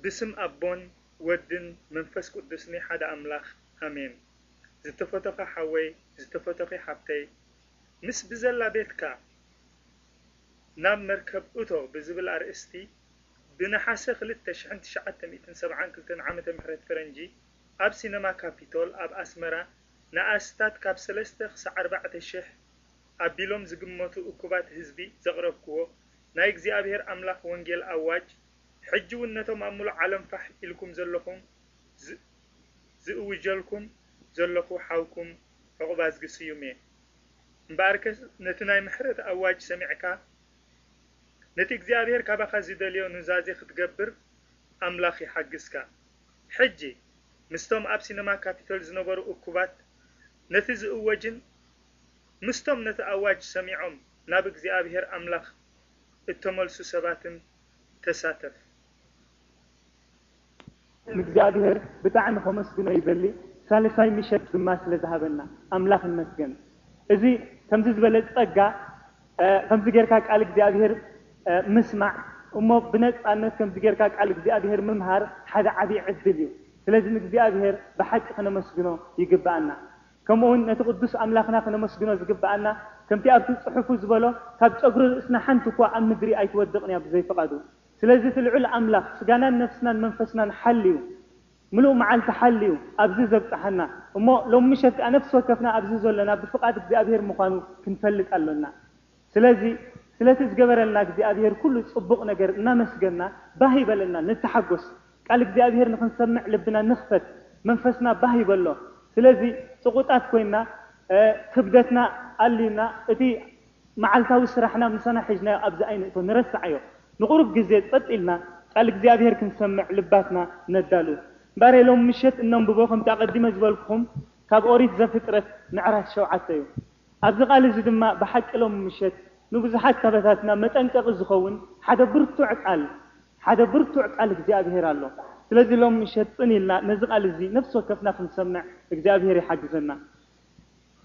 ብስም ኣቦን ወድን መንፈስ ቅዱስኒ ሓደ ኣምላኽ ኣሜን ዝተፈቶኻ ሓወይ ዝተፈቶኺ ሓብተይ ምስ ብዘላ ቤትካ ናብ መርከብ እቶ ብዝብል ኣርእስቲ ብ ነሓሰ ክልተ ሽሕን ትሽዓተ ሚእትን ሰብዓን ክልተን ዓመተ ምሕረት ፈረንጂ ኣብ ሲነማ ካፒቶል ኣብ ኣስመራ ንኣስታት ካብ ሰለስተ ክሳዕ ኣርባዕተ ሽሕ ኣቢሎም ዝግመቱ እኩባት ህዝቢ ዘቅረብክዎ ናይ እግዚኣብሔር ኣምላኽ ወንጌል ኣዋጅ ሕጂ ውን ነቶም ኣብ ምሉእ ዓለም ፋሕ ኢልኩም ዘለኹም ዝእውጀልኩም ዘለኹ ሓውኩም ዑቕባዝጊ ስዩም እየ። እምበኣርከስ ነቲ ናይ ምሕረት ኣዋጅ ሰሚዕካ ነቲ እግዚኣብሄር ካባኻ ዚደልዮ ኑዛዜ ኽትገብር ኣምላኽ ይሓግዝካ። ሕጂ ምስቶም ኣብ ሲነማ ካፒቶል ዝነበሩ እኩባት ነቲ ዝእወጅን ምስቶም ነቲ ኣዋጅ ሰሚዖም ናብ እግዚኣብሄር ኣምላኽ እተመልሱ ሰባትን ተሳተፍ። ንእግዚኣብሄር ብጣዕሚ ከመስግኖ ይደሊ ሳልሳይ ምሸት ድማ ስለ ዝሃበና ኣምላኽ ይመስገን እዚ ከምዚ ዝበለ ጸጋ ከምዚ ጌርካ ቃል እግዚኣብሄር ምስማዕ እሞ ብነጻነት ከምዚ ጌርካ ቃል እግዚኣብሄር ምምሃር ሓደ ዓቢ ዕድል እዩ ስለዚ ንእግዚኣብሄር ብሓቂ ክነመስግኖ ይግብኣና ከምኡውን ነቲ ቅዱስ ኣምላኽና ክነመስግኖ ዝግብኣና፣ ከምቲ ኣብቲ ጽሑፉ ዝበሎ፣ ካብ ጨጉሪ ርእስና ሓንቲ እኳ ኣብ ምድሪ ኣይትወድቕን እያ ብዘይ ፍቓዱ። ስለዚ እቲ ልዑል ኣምላኽ ስጋናን ነፍስናን መንፈስናን ሓልዩ፣ ምሉእ መዓልቲ ሓልዩ ኣብዚ ዘብጽሓና፣ እሞ ሎሚ ምሸት ከኣ ነፍሲ ወከፍና ኣብዚ ዘሎና ብፍቓድ እግዚኣብሔር ምዃኑ ክንፈልጥ ኣሎና። ስለዚ ስለቲ ዝገበረልና እግዚኣብሄር ኩሉ ጽቡቕ ነገር እናመስገንና ባህ ይበለና ንተሓጎስ ቃል እግዚኣብሄር ንኽንሰምዕ ልብና ንኽፈት መንፈስና ባህ ይበሎ ስለዚ ጽቑጣት ኮይና ክብደትና ኣልዩና እቲ መዓልታዊ ስራሕና ምሳና ሒዝናዮ ኣብዚ ኣይንእቶ ንረስዓዮ ንቑሩብ ግዜ ጸጥ ኢልና ቃል እግዚኣብሄር ክንሰምዕ ልባትና ነዳሉ እምበኣረይ ሎሚ ምሸት እነንብቦ ከምቲ ኣቐዲመ ዝበልኩኹም ካብ ኦሪት ዘፍጥረት ምዕራፍ ሸውዓተ እዩ። ኣብዚ ቃል እዚ ድማ ብሓቂ ሎሚ ምሸት ንብዙሓት ካባታትና መጠንቀቂ ዝኸውን ሓደ ብርቱዕ ቃል ሓደ ብርቱዕ ቃል እግዚኣብሄር ኣሎ። ስለዚ ሎሚ ምሸት ጽን ኢልና ነዚ ቃል እዚ ነፍሲ ወከፍና ክንሰምዕ እግዚኣብሄር ይሓግዘና።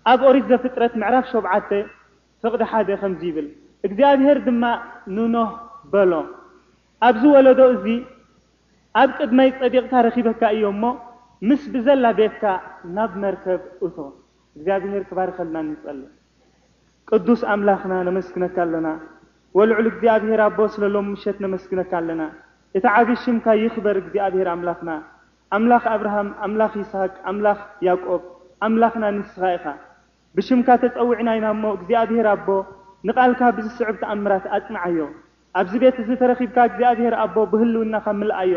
ኣብ ኦሪት ዘፍጥረት ምዕራፍ ሾብዓተ ፍቅዲ ሓደ ከምዚ ይብል እግዚኣብሄር ድማ ንኖህ በሎ ኣብዚ ወለዶ እዚ ኣብ ቅድመይ ጸዲቅካ ረኪበካ እየ እሞ ምስ ብዘላ ቤትካ ናብ መርከብ እቶ። እግዚኣብሔር ክባርኸልና ንጸልይ። ቅዱስ ኣምላኽና ነመስግነካ ኣለና ወልዑል እግዚኣብሔር ኣቦ ስለ ሎም ምሸት ነመስግነካ ኣለና እቲ ዓቢ ሽምካ ይክበር እግዚኣብሔር ኣምላኽና ኣምላኽ ኣብርሃም ኣምላኽ ይስሃቅ ኣምላኽ ያቆብ ኣምላኽና ንስኻ ኢኻ ብሽምካ ተጸዊዕና ኢና እሞ እግዚኣብሔር ኣቦ ንቃልካ ብዝስዕብ ተኣምራት ኣጽንዓዮ ኣብዚ ቤት እዚ ተረኺብካ እግዚኣብሔር ኣቦ ብህልውናኻ ምልኣዮ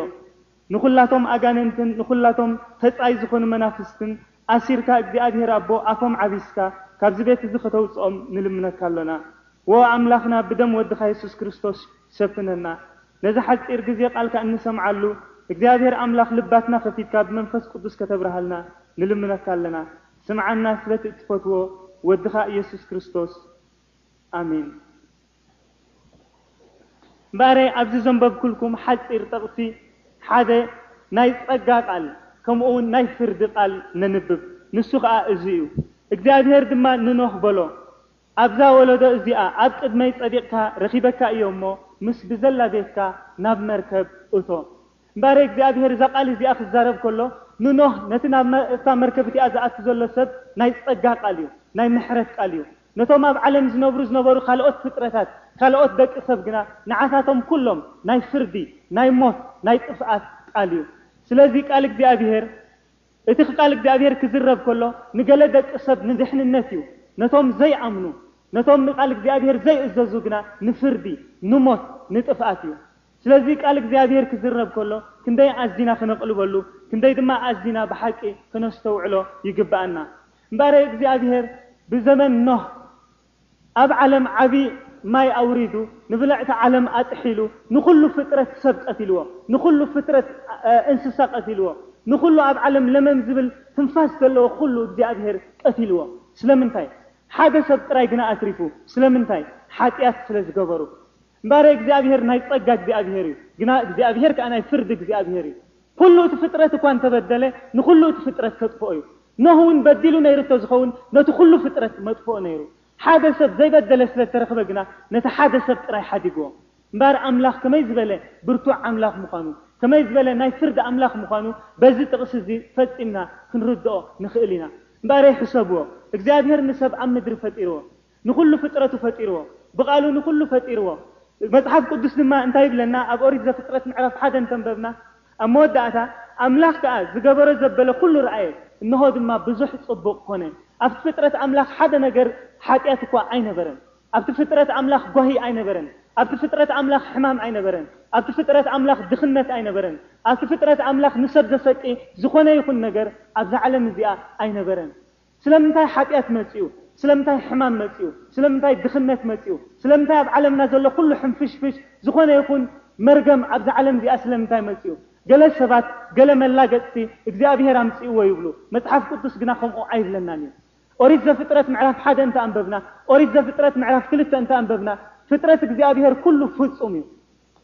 ንኹላቶም ኣጋንንትን ንኹላቶም ተጻይ ዝኾኑ መናፍስትን ኣሲርካ እግዚኣብሄር ኣቦ ኣፎም ዓቢስካ ካብዚ ቤት እዚ ከተውጽኦም ንልምነካ ኣሎና ዎ ኣምላኽና ብደም ወድኻ የሱስ ክርስቶስ ሸፍነና ነዚ ሓጺር ግዜ ቃልካ እንሰምዓሉ እግዚኣብሄር ኣምላኽ ልባትና ከፊትካ ብመንፈስ ቁዱስ ከተብርሃልና ንልምነካ ኣለና ስምዓና ስለቲ እትፈትዎ ወድኻ ኢየሱስ ክርስቶስ ኣሜን። እምበኣረይ ኣብዚ ዘንበብኩልኩም ሓጺር ጥቕሲ ሓደ ናይ ጸጋ ቃል ከምኡውን ናይ ፍርዲ ቃል ነንብብ፣ ንሱ ኸኣ እዚ እዩ፣ እግዚኣብሄር ድማ ንኖህ በሎ፣ ኣብዛ ወለዶ እዚኣ ኣብ ቅድመይ ጸዲቕካ ረኺበካ እየ እሞ፣ ምስ ብዘላ ቤትካ ናብ መርከብ እቶ። እምበኣር እግዚኣብሄር እዛ ቓል እዚኣ ኺዛረብ ከሎ፣ ንኖህ፣ ነቲ ናብ እታ መርከብ እቲኣ ዚኣቱ ዘሎ ሰብ፣ ናይ ጸጋ ቓል እዩ። ናይ ምሕረት ቃል እዩ። ነቶም ኣብ ዓለም ዚነብሩ ዝነበሩ ካልኦት ፍጥረታት፣ ካልኦት ደቂ ሰብ ግና፣ ንዓታቶም ኵሎም፣ ናይ ፍርዲ፣ ናይ ሞት፣ ናይ ጥፍኣት ቃል እዩ። ስለዚ ቃል እግዚኣብሄር፣ እቲ ኽቃል እግዚኣብሄር ኪዝረብ ከሎ፣ ንገለ ደቂ ሰብ ንድሕንነት እዩ። ነቶም ዘይኣምኑ፣ ነቶም ንቓል እግዚኣብሄር ዘይእዘዙ ግና፣ ንፍርዲ፣ ንሞት፣ ንጥፍኣት እዩ። ስለዚ ቃል እግዚኣብሄር ክዝረብ ከሎ ክንደይ ኣዚና ክነቕልበሉ ክንደይ ድማ ኣዚና ብሓቂ ክነስተውዕሎ ይግብኣና። እምበኣረይ እግዚኣብሄር ብዘመን ኖህ ኣብ ዓለም ዓቢ ማይ ኣውሪዱ ንብልዕቲ ዓለም ኣጥሒሉ ንኹሉ ፍጥረት ሰብ ቀቲልዎ ንኹሉ ፍጥረት እንስሳ ቀቲልዎ ንኹሉ ኣብ ዓለም ለመም ዝብል ትንፋስ ዘለዎ ኩሉ እግዚኣብሄር ቀቲልዎ ስለምንታይ ሓደ ሰብ ጥራይ ግና ኣትሪፉ ስለምንታይ ሓጢኣት ስለ ዝገበሩ እምበኣር እግዚኣብሄር ናይ ጸጋ እግዚኣብሄር እዩ፣ ግና እግዚኣብሄር ከኣ ናይ ፍርዲ እግዚኣብሄር እዩ። ኩሉ እቲ ፍጥረት እኳ እንተ በደለ፣ ንኹሉ እቲ ፍጥረት ከጥፍኦ እዩ። ኖህ እውን በዲሉ ነይሩ እንተ ዝኸውን፣ ነቲ ኩሉ ፍጥረት መጥፍኦ ነይሩ። ሓደ ሰብ ዘይበደለ ስለ እተረኽበ ግና፣ ነቲ ሓደ ሰብ ጥራይ ሓዲግዎ። እምበኣር ኣምላኽ ከመይ ዝበለ ብርቱዕ ኣምላኽ ምዃኑ፣ ከመይ ዝበለ ናይ ፍርዲ ኣምላኽ ምዃኑ በዚ ጥቕሲ እዚ ፈጺምና ክንርድኦ ንኽእል ኢና። እምበኣረይ ሕሰብዎ፣ እግዚኣብሄር ንሰብ ኣብ ምድሪ ፈጢርዎ። ንዅሉ ፍጥረቱ ፈጢርዎ። ብቓሉ ንዅሉ ፈጢርዎ። መጽሓፍ ቅዱስ ድማ እንታይ ይብለና? ኣብ ኦሪት ዘፍጥረት ምዕራፍ ሓደ እንተ ኣንበብና፣ ኣብ መወዳእታ፣ ኣምላኽ ከኣ ዝገበሮ ዘበለ ዅሉ ረኣየ፣ እንሆ ድማ ብዙሕ ጽቡቕ ኰነ። ኣብቲ ፍጥረት ኣምላኽ ሓደ ነገር ሓጢኣት እኳ ኣይነበረን። ኣብቲ ፍጥረት ኣምላኽ ጓሂ ኣይነበረን። ኣብቲ ፍጥረት ኣምላኽ ሕማም ኣይነበረን። ኣብቲ ፍጥረት ኣምላኽ ድኽነት ኣይነበረን። ኣብቲ ፍጥረት ኣምላኽ ንሰብ ዘሰቂ ዝዀነ ይኹን ነገር ኣብዛ ዓለም እዚኣ ኣይነበረን። ስለምንታይ ሓጢኣት መጺኡ? ስለምንታይ ሕማም መጺኡ? ስለምንታይ ድኽነት መጺኡ? ስለምንታይ ኣብ ዓለምና ዘሎ ኩሉ ሕንፍሽፍሽ፣ ዝኾነ ይኹን መርገም ኣብዛ ዓለም እዚኣ ስለምንታይ መጺኡ? ገለ ሰባት ገለ መላገጽቲ እግዚኣብሄር ኣምጺእዎ ይብሉ። መጽሓፍ ቅዱስ ግና ከምኡ ኣይብለናን እዩ። ኦሪት ዘፍጥረት ምዕራፍ ሓደ እንተ ኣንበብና፣ ኦሪት ዘፍጥረት ምዕራፍ ክልተ እንተ ኣንበብና፣ ፍጥረት እግዚኣብሄር ኩሉ ፍጹም እዩ።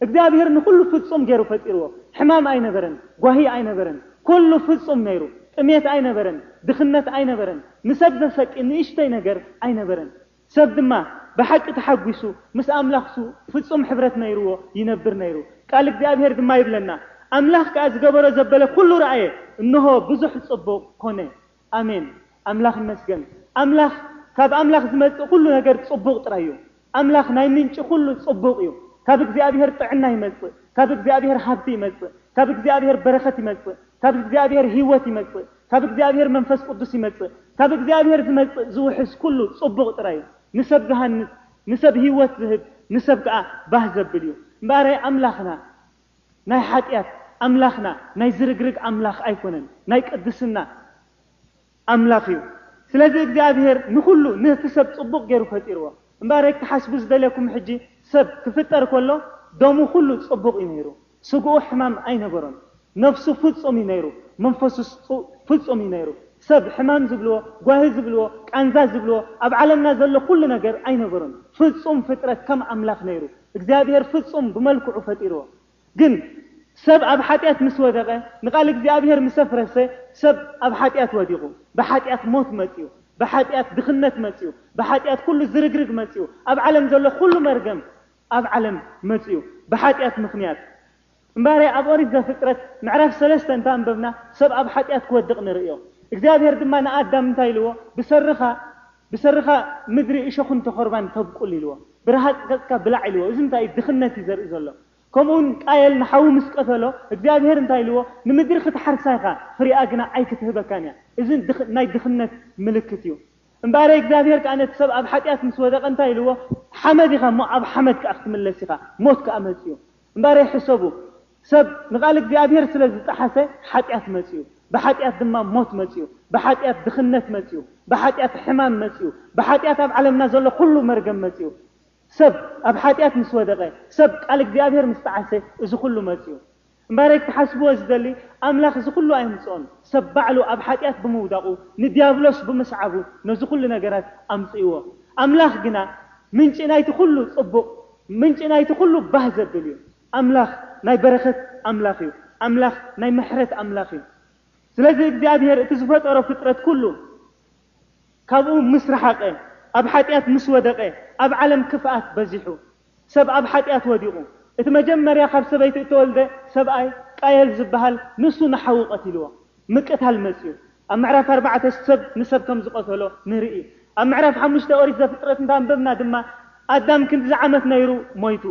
እግዚኣብሄር ንኹሉ ፍጹም ገይሩ ፈጢርዎ። ሕማም ኣይነበረን፣ ጓሂ ኣይነበረን፣ ኩሉ ፍጹም ነይሩ። ጥሜት ኣይነበረን፣ ድኽነት ኣይነበረን፣ ንሰብ ዘሰቂ ንእሽተይ ነገር ኣይነበረን። ሰብ ድማ ብሓቂ ተሓጒሱ ምስ ኣምላኽሱ ፍጹም ሕብረት ነይርዎ ይነብር ነይሩ። ቃል እግዚኣብሄር ድማ ይብለና፣ ኣምላኽ ከኣ ዝገበሮ ዘበለ ኩሉ ረኣየ፣ እንሆ ብዙሕ ጽቡቕ ኮነ። ኣሜን ኣምላኽ ይመስገን ኣምላኽ ካብ ኣምላኽ ዝመጽእ ኩሉ ነገር ጽቡቕ ጥራይ እዩ ኣምላኽ ናይ ምንጪ ኩሉ ጽቡቕ እዩ ካብ እግዚኣብሄር ጥዕና ይመጽእ ካብ እግዚኣብሄር ሃብቲ ይመጽእ ካብ እግዚኣብሄር በረኸት ይመጽእ ካብ እግዚኣብሄር ህይወት ይመጽእ ካብ እግዚኣብሄር መንፈስ ቅዱስ ይመጽእ ካብ እግዚኣብሄር ዝመጽእ ዝውሕዝ ኩሉ ጽቡቕ ጥራይ እዩ ንሰብ ዝሃንጽ ንሰብ ህይወት ዝህብ ንሰብ ከኣ ባህ ዘብል እዩ እምበኣረይ ኣምላኽና ናይ ሓጢኣት ኣምላኽና ናይ ዝርግርግ ኣምላኽ ኣይኮነን ናይ ቅድስና ኣምላኽ እዩ ስለዚ እግዚኣብሄር ንኹሉ ንህቲ ሰብ ጽቡቕ ጌሩ ፈጢርዎ እምበኣረይ ክትሓስቡ ዝደልየኩም ሕጂ ሰብ ክፍጠር ከሎ ደሙ ኩሉ ጽቡቕ እዩ ነይሩ ስግኡ ሕማም ኣይነበሮን ነፍሱ ፍጹም እዩ ነይሩ መንፈሱስ ፍጹም እዩ ነይሩ ሰብ ሕማም ዝብልዎ ጓሂ ዝብልዎ ቃንዛ ዝብልዎ ኣብ ዓለምና ዘሎ ኩሉ ነገር ኣይነበሮን ፍጹም ፍጥረት ከም ኣምላኽ ነይሩ እግዚኣብሔር ፍጹም ብመልክዑ ፈጢርዎ ግን ሰብ ኣብ ሓጢኣት ምስ ወደቐ ንቃል እግዚኣብሔር ምስ ኣፍረሰ ሰብ ኣብ ሓጢኣት ወዲቑ ብሓጢኣት ሞት መጺኡ ብሓጢኣት ድኽነት መጺኡ ብሓጢኣት ኩሉ ዝርግርግ መጺኡ ኣብ ዓለም ዘሎ ኩሉ መርገም ኣብ ዓለም መጺኡ ብሓጢኣት ምኽንያት እምባሬ ኣብ ኦሪት ዘፍጥረት ምዕራፍ ሰለስተ እንተ ኣንበብና ሰብ ኣብ ሓጢኣት ክወድቕ ንርእዮ። እግዚኣብሄር ድማ ንኣዳም እንታይ ኢልዎ ብሰርኻ ብሰርኻ ምድሪ እሾኽን ተኾርባን ተብቁል ኢልዎ። ብረሃጽ ገጽካ ብላዕ ኢልዎ። እዚ እንታይ እዩ ድኽነት እዩ ዘርኢ ዘሎ። ከምኡ ውን ቃየል ንሓዉ ምስ ቀተሎ እግዚኣብሄር እንታይ ኢልዎ ንምድሪ ክትሓርሳ ኢኻ ፍሪኣ ግና ኣይክትህበካን እያ። እዚ ናይ ድኽነት ምልክት እዩ። እምባሬ እግዚኣብሄር ከኣ ነቲ ሰብ ኣብ ሓጢኣት ምስ ወደቐ እንታይ ኢልዎ ሓመድ ኢኻ እሞ ኣብ ሓመድ ከኣ ክትምለስ ኢኻ ሞት ከኣ መጽዩ። እምበኣረይ ሕሰቡ፣ ሰብ ንቓል እግዚኣብሄር ስለ ዝጠሓሰ ሓጢኣት መጺኡ፣ ብሓጢኣት ድማ ሞት መጺኡ፣ ብሓጢኣት ድኽነት መጺኡ፣ ብሓጢኣት ሕማም መጺኡ፣ ብሓጢኣት ኣብ ዓለምና ዘሎ ዅሉ መርገም መጺኡ። ሰብ ኣብ ሓጢኣት ምስ ወደቐ፣ ሰብ ቃል እግዚኣብሄር ምስ ጠዓሰ እዚ ዅሉ መጺኡ። እምበኣረይ ክትሓስብዎ ዝደሊ፣ ኣምላኽ እዚ ዅሉ ኣየምጽኦን፣ ሰብ ባዕሉ ኣብ ሓጢኣት ብምውዳቑ፣ ንድያብሎስ ብምስዓቡ ነዚ ዅሉ ነገራት ኣምጺእዎ። ኣምላኽ ግና ምንጪ ናይቲ ዅሉ ጽቡቕ፣ ምንጪ ናይቲ ኩሉ ባህ ዘብል እዩ። ኣምላኽ ናይ በረኸት ኣምላኽ እዩ። ኣምላኽ ናይ ምሕረት ኣምላኽ እዩ። ስለዚ እግዚኣብሄር እቲ ዝፈጠሮ ፍጥረት ኩሉ ካብኡ ምስ ረሓቐ፣ ኣብ ሓጢኣት ምስ ወደቐ፣ ኣብ ዓለም ክፍኣት በዚሑ። ሰብ ኣብ ሓጢኣት ወዲቑ። እቲ መጀመርያ ካብ ሰበይቲ እተወልደ ሰብኣይ ቃየል ዝበሃል ንሱ ንሓዉ ቀቲልዎ። ምቅታል መጽዩ ኣብ ምዕራፍ ኣርባዕተ ሰብ ንሰብ ከም ዝቀተሎ ንርኢ ኣብ ምዕራፍ ሓሙሽተ ኦሪት ዘፍጥረት እንተ ኣንበብና ድማ ኣዳም ክንድዚ ዓመት ነይሩ ሞይቱ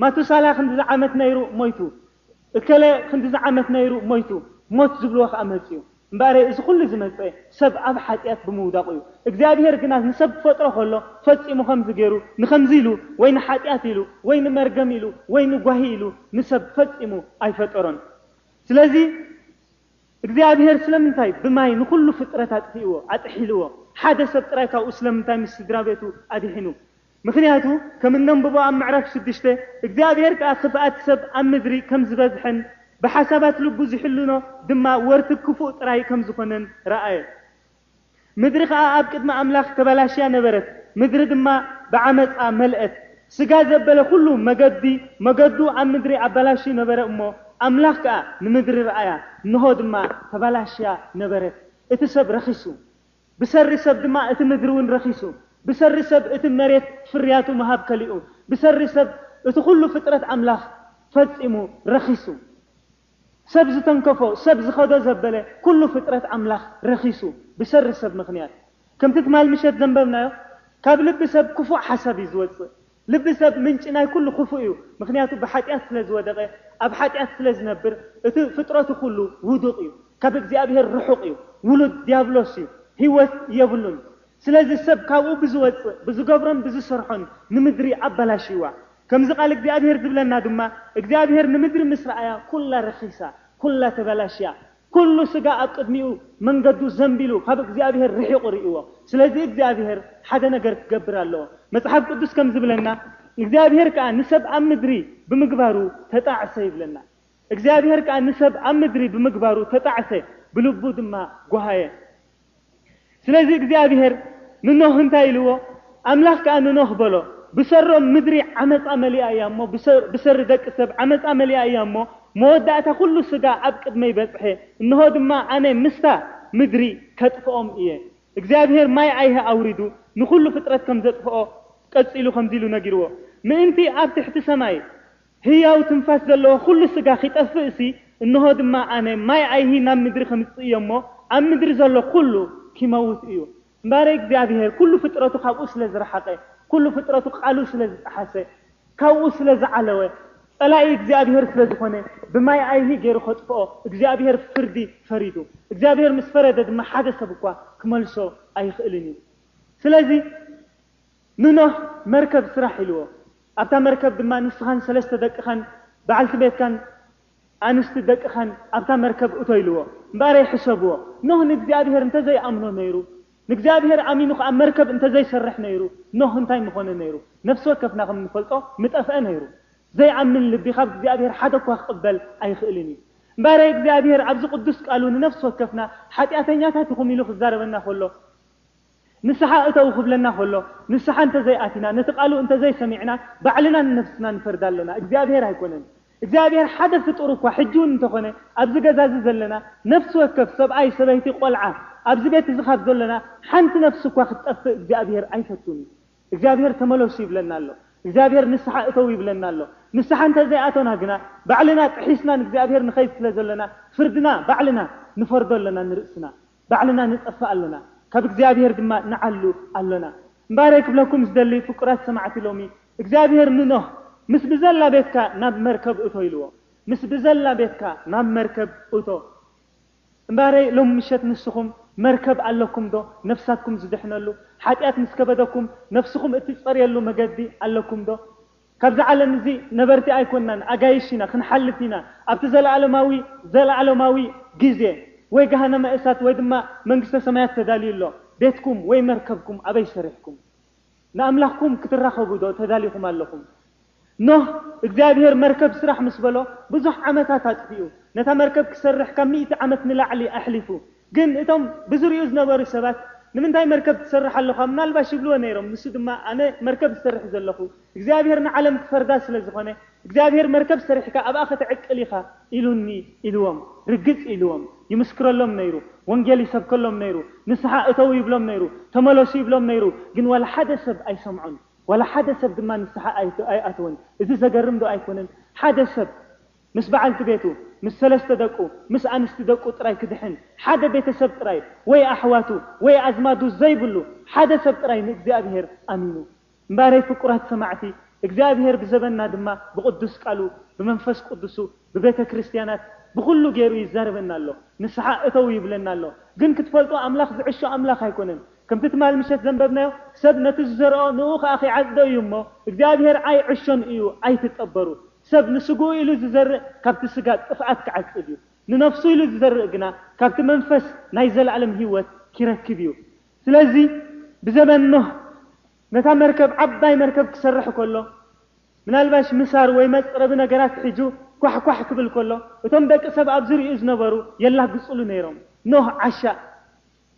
ማቱሳላ ክንድዚ ዓመት ነይሩ ሞይቱ እከለ ክንድዚ ዓመት ነይሩ ሞይቱ ሞት ዝብልዎ ከኣ መጽዩ እምበኣረይ እዚ ኩሉ ዝመጸ ሰብ ኣብ ሓጥያት ብምውዳቁ እዩ እግዚኣብሄር ግና ንሰብ ክፈጥሮ ከሎ ፈጺሙ ከምዚ ገይሩ ንከምዚ ኢሉ ወይ ንሓጥያት ኢሉ ወይ ንመርገም ኢሉ ወይ ንጓሂ ኢሉ ንሰብ ፈጺሙ ኣይፈጠሮን ስለዚ እግዚኣብሄር ስለምንታይ ብማይ ንኹሉ ፍጥረት ኣጥፊእዎ፣ ኣጥሒልዎ፣ ሓደ ሰብ ጥራይ ካብኡ ስለምንታይ ምስ ስድራቤቱ ኣድሒኑ? ምኽንያቱ ከም እነንብቦ ኣብ ምዕራፍ ሽዱሽተ እግዚኣብሄር ከኣ ክፍኣት ሰብ ኣብ ምድሪ ከም ዝበዝሐን ብሓሳባት ልቡ ዝሕልኖ ድማ ወርቲ ክፉእ ጥራይ ከም ዝኾነን ረኣየ። ምድሪ ኸኣ ኣብ ቅድሚ ኣምላኽ ተበላሽያ ነበረት፣ ምድሪ ድማ ብዓመጻ መልአት። ስጋ ዘበለ ዅሉ መገዲ መገዱ ኣብ ምድሪ ኣበላሽዩ ነበረ እሞ፣ ኣምላኽ ከኣ ንምድሪ ረኣያ፣ እንሆ ድማ ተበላሽያ ነበረት፣ እቲ ሰብ ረኺሱ፣ ብሰሪ ሰብ ድማ እቲ ምድሪውን ረኺሱ፣ ብሰሪ ሰብ እቲ መሬት ፍርያቱ ምሃብ ከሊኡ፣ ብሰሪ ሰብ እቲ ዅሉ ፍጥረት ኣምላኽ ፈጺሙ ረኺሱ። ሰብ ዝተንከፎ ሰብ ዝኸዶ ዘበለ ኩሉ ፍጥረት ኣምላኽ ረኺሱ ብሸሪ ሰብ ምኽንያት ከምቲ ትማል ምሸት ዘንበብናዮ ካብ ልቢ ሰብ ክፉእ ሓሳብ እዩ ዝወጽእ ልቢ ሰብ ምንጪ ናይ ኩሉ ክፉእ እዩ ምኽንያቱ ብሓጢኣት ስለ ዝወደቐ ኣብ ሓጢኣት ስለ ዝነብር እቲ ፍጥረቱ ኩሉ ውዱቕ እዩ ካብ እግዚኣብሄር ርሑቕ እዩ ውሉድ ድያብሎስ እዩ ህይወት የብሉን ስለዚ ሰብ ካብኡ ብዝወጽእ ብዝገብሮን ብዝሰርሖን ንምድሪ ኣበላሽይዋ ከምዚ ቃል እግዚኣብሄር ዝብለና ድማ እግዚኣብሄር ንምድሪ ምስ ረኣያ ኩላ ረኺሳ ኩላ ተበላሽያ ኩሉ ስጋ ኣብ ቅድሚኡ መንገዱ ዘንቢሉ ካብ እግዚኣብሄር ርሒቑ ርእይዎ ስለዚ እግዚኣብሄር ሓደ ነገር ክገብር ኣለዎ መጽሓፍ ቅዱስ ከም ዝብለና እግዚኣብሄር ከኣ ንሰብ ኣብ ምድሪ ብምግባሩ ተጣዕሰ ይብለና እግዚኣብሄር ከኣ ንሰብ ኣብ ምድሪ ብምግባሩ ተጣዕሰ ብልቡ ድማ ጎሃየ ስለዚ እግዚኣብሄር ንኖህ እንታይ ኢልዎ? ኣምላኽ ከኣ ንኖህ በሎ፣ ብሰሮም ምድሪ ዓመጻ መሊኣ እያ እሞ፣ ብሰሪ ደቂ ሰብ ዓመጻ መሊኣ እያ እሞ፣ መወዳእታ ኩሉ ስጋ ኣብ ቅድመይ በጽሐ፣ እንሆ ድማ ኣነ ምስታ ምድሪ ከጥፍኦም እየ። እግዚኣብሄር ማይ ኣይሂ ኣውሪዱ ንኹሉ ፍጥረት ከም ዘጥፍኦ ቀጺሉ ከምዚ ኢሉ ነጊርዎ፣ ምእንቲ ኣብ ትሕቲ ሰማይ፣ ህያው ትንፋስ ዘለዎ ዅሉ ስጋ ኺጠፍእሲ፣ እንሆ ድማ ኣነ ማይ ኣይሂ ናብ ምድሪ ኸምጽእ እዮ እሞ፣ ኣብ ምድሪ ዘሎ ዅሉ ኪመውት እዩ። እምበኣር እግዚኣብሄር ኵሉ ፍጥረቱ ካብኡ ስለ ዝረሓቐ፣ ኵሉ ፍጥረቱ ቓሉ ስለ ዝጠሓሰ፣ ካብኡ ስለ ዝዓለወ፣ ጸላኢ እግዚኣብሄር ስለ ዝዀነ፣ ብማይ ኣይሂ ገይሩ ኼጥፍኦ እግዚኣብሄር ፍርዲ ፈሪዱ። እግዚኣብሄር ምስ ፈረደ ድማ ሓደ ሰብ እኳ ኪመልሶ ኣይኽእልን እዩ። ስለዚ፣ ንኖህ መርከብ ስራሕ ኢልዎ። ኣብታ መርከብ ድማ ንስኻን ሰለስተ ደቅኻን በዓልቲ ቤትካን ኣንስቲ ደቅኻን ኣብታ መርከብ እቶ ኢልዎ። እምበኣረይ ሕሰብዎ፣ ኖህ ንእግዚኣብሄር እንተ ዘይኣምኖ ነይሩ፣ ንእግዚኣብሄር ኣሚኑ ኸኣ መርከብ እንተ ዘይሰርሕ ነይሩ፣ ኖህ እንታይ ምዀነ ነይሩ? ነፍሲ ወከፍና ከም እንፈልጦ ምጠፍአ ነይሩ። ዘይኣምን ልቢ ኻብ እግዚኣብሄር ሓደ እኳ ክቕበል ኣይኽእልን እዩ። እምበኣረይ እግዚኣብሄር ኣብዚ ቕዱስ ቃሉ ንነፍሲ ወከፍና ሓጢኣተኛታት ኢኹም ኢሉ ኽዛረበና ኸሎ፣ ንስሓ እተዉ ክብለና ከሎ፣ ንስሓ እንተ ዘይኣቲና፣ ነቲ ቃሉ እንተ ዘይሰሚዕና፣ ባዕልና ንነፍስና ንፈርድ ኣሎና፣ እግዚኣብሄር ኣይኮነን። እግዚኣብሄር ሓደ ፍጡር እኳ ሕጂውን እንተኾነ ኣብዚ ገዛ እዚ ዘለና ነፍሲ ወከፍ ሰብኣይ፣ ሰበይቲ፣ ቆልዓ ኣብዚ ቤት እዚ ካብ ዘሎና ሓንቲ ነፍሲ እኳ ክትጠፍእ እግዚኣብሄር ኣይፈቱን እዩ። እግዚኣብሄር ተመለሱ ይብለና ኣሎ። እግዚኣብሄር ንስሓ እተዉ ይብለና ኣሎ። ንስሓ እንተ ዘይኣቶና ግና ባዕልና ጥሒስና ንእግዚኣብሄር ንኸይድ ስለ ዘሎና ፍርድና ባዕልና ንፈርዶ ኣሎና ንርእስና። ባዕልና ንጠፍእ ኣሎና ካብ እግዚኣብሄር ድማ ንዓሉ ኣሎና። እምበኣረይ ክብለኩም ዝደሊ ፍቁራት ሰማዕቲ ሎሚ እግዚኣብሄር ንኖህ ምስ ብዘላ ቤትካ ናብ መርከብ እቶ ኢልዎ ምስ ብዘላ ቤትካ ናብ መርከብ እቶ እምበኣረይ ሎሚ ምሸት ንስኹም መርከብ ኣለኩም ዶ ነፍሳትኩም ዝድሕነሉ ሓጢኣት ምስ ከበደኩም ነፍስኹም እትጸርየሉ መገዲ ኣለኩም ዶ ካብዚ ዓለም እዚ ነበርቲ ኣይኮናን ኣጋይሽ ኢና ክንሓልፍ ኢና ኣብቲ ዘለኣለማዊ ዘለኣለማዊ ግዜ ወይ ገሃነመ እሳት ወይ ድማ መንግስተ ሰማያት ተዳልዩ ኣሎ ቤትኩም ወይ መርከብኩም ኣበይ ሰሪሕኩም ንኣምላኽኩም ክትራኸቡ ዶ ተዳሊኹም ኣለኹም ኖህ እግዚኣብሄር መርከብ ስራሕ ምስ በሎ ብዙሕ ዓመታት ኣጥፊኡ ነታ መርከብ ክሰርሕ ካብ ሚእቲ ዓመት ንላዕሊ ኣሕሊፉ ግን እቶም ብዙርይኡ ዝነበሩ ሰባት ንምንታይ መርከብ ትሰርሕ ኣሎኻ ምናልባሽ ይብልዎ ነይሮም ንሱ ድማ ኣነ መርከብ ዝሰርሕ ዘለኹ እግዚኣብሄር ንዓለም ክፈርዳ ስለ ዝኾነ እግዚኣብሄር መርከብ ሰሪሕካ ኣብኣ ከተዕቅል ኢኻ ኢሉኒ ኢልዎም ርግጽ ኢልዎም ይምስክረሎም ነይሩ ወንጌል ይሰብከሎም ነይሩ ንስሓ እተዉ ይብሎም ነይሩ ተመለሱ ይብሎም ነይሩ ግን ዋላ ሓደ ሰብ ኣይሰምዖን ዋላ ሓደ ሰብ ድማ ንስሓ ኣይኣተወን እዚ ዘገርም ዶ ኣይኮነን ሓደ ሰብ ምስ በዓልቲ ቤቱ፣ ምስ ሰለስተ ደቁ፣ ምስ ኣንስቲ ደቁ ጥራይ ክድሕን፣ ሓደ ቤተሰብ ጥራይ፣ ወይ ኣሕዋቱ፣ ወይ ኣዝማዱ ዘይብሉ ሓደ ሰብ ጥራይ ንእግዚኣብሄር ኣሚኑ። እምበኣረይ ፍቁራት ሰማዕቲ፣ እግዚኣብሄር ብዘበንና ድማ ብቕዱስ ቃሉ፣ ብመንፈስ ቅዱሱ፣ ብቤተ ክርስቲያናት፣ ብኹሉ ገይሩ ይዛረበና ኣሎ። ንስሓ እተዉ ይብለና ኣሎ። ግን ክትፈልጡ ኣምላኽ ዝዕሾ ኣምላኽ ኣይኮነን። ከምቲ ትማል ምሸት ዘንበብናዮ ሰብ ነቲ ዝዘርኦ ንኡ ከኣ ኺዓጽዶ እዩ እሞ፣ እግዚኣብሄር ኣይ ዕሾን እዩ ኣይትጠበሩ። ሰብ ንስግኡ ኢሉ ዝዘርእ ካብቲ ስጋ ጥፍኣት ክዓጽድ እዩ፣ ንነፍሱ ኢሉ ዝዘርእ ግና ካብቲ መንፈስ ናይ ዘለኣለም ህይወት ኪረክብ እዩ። ስለዚ ብዘበን ኖህ ነታ መርከብ ዓባይ መርከብ ክሰርሕ ከሎ ምናልባሽ ምሳር ወይ መጽረቢ ነገራት ሒዙ ኳሕ ኳሕ ክብል ከሎ እቶም ደቂ ሰብ ኣብ ዝርይኡ ዝነበሩ የላግጽሉ ነይሮም ኖህ ዓሻ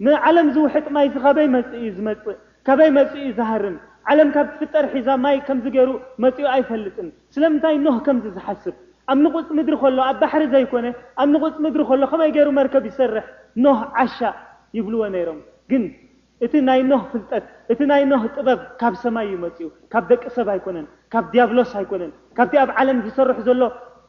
ንዓለም ዝውሕጥ ማይሲ ካበይ መጽኡ እዩ ዝመጽእ ካበይ መጽኡ እዩ ዝሃርም ዓለም ካብ ትፍጠር ሒዛ ማይ ከምዚ ገሩ መጽኡ ኣይፈልጥን ስለምንታይ ኖህ ከምዚ ዝሓስብ ኣብ ንቁጽ ምድሪ ከሎ ኣብ ባሕሪ ዘይኮነ ኣብ ንቁጽ ምድሪ ከሎ ከመይ ገሩ መርከብ ይሰርሕ ኖህ ዓሻ ይብልወ ነይሮም ግን እቲ ናይ ኖህ ፍልጠት እቲ ናይ ኖህ ጥበብ ካብ ሰማይ እዩ መጽኡ ካብ ደቂ ሰብ ኣይኮነን ካብ ድያብሎስ ኣይኮነን ካብቲ ኣብ ዓለም ዝሰርሕ ዘሎ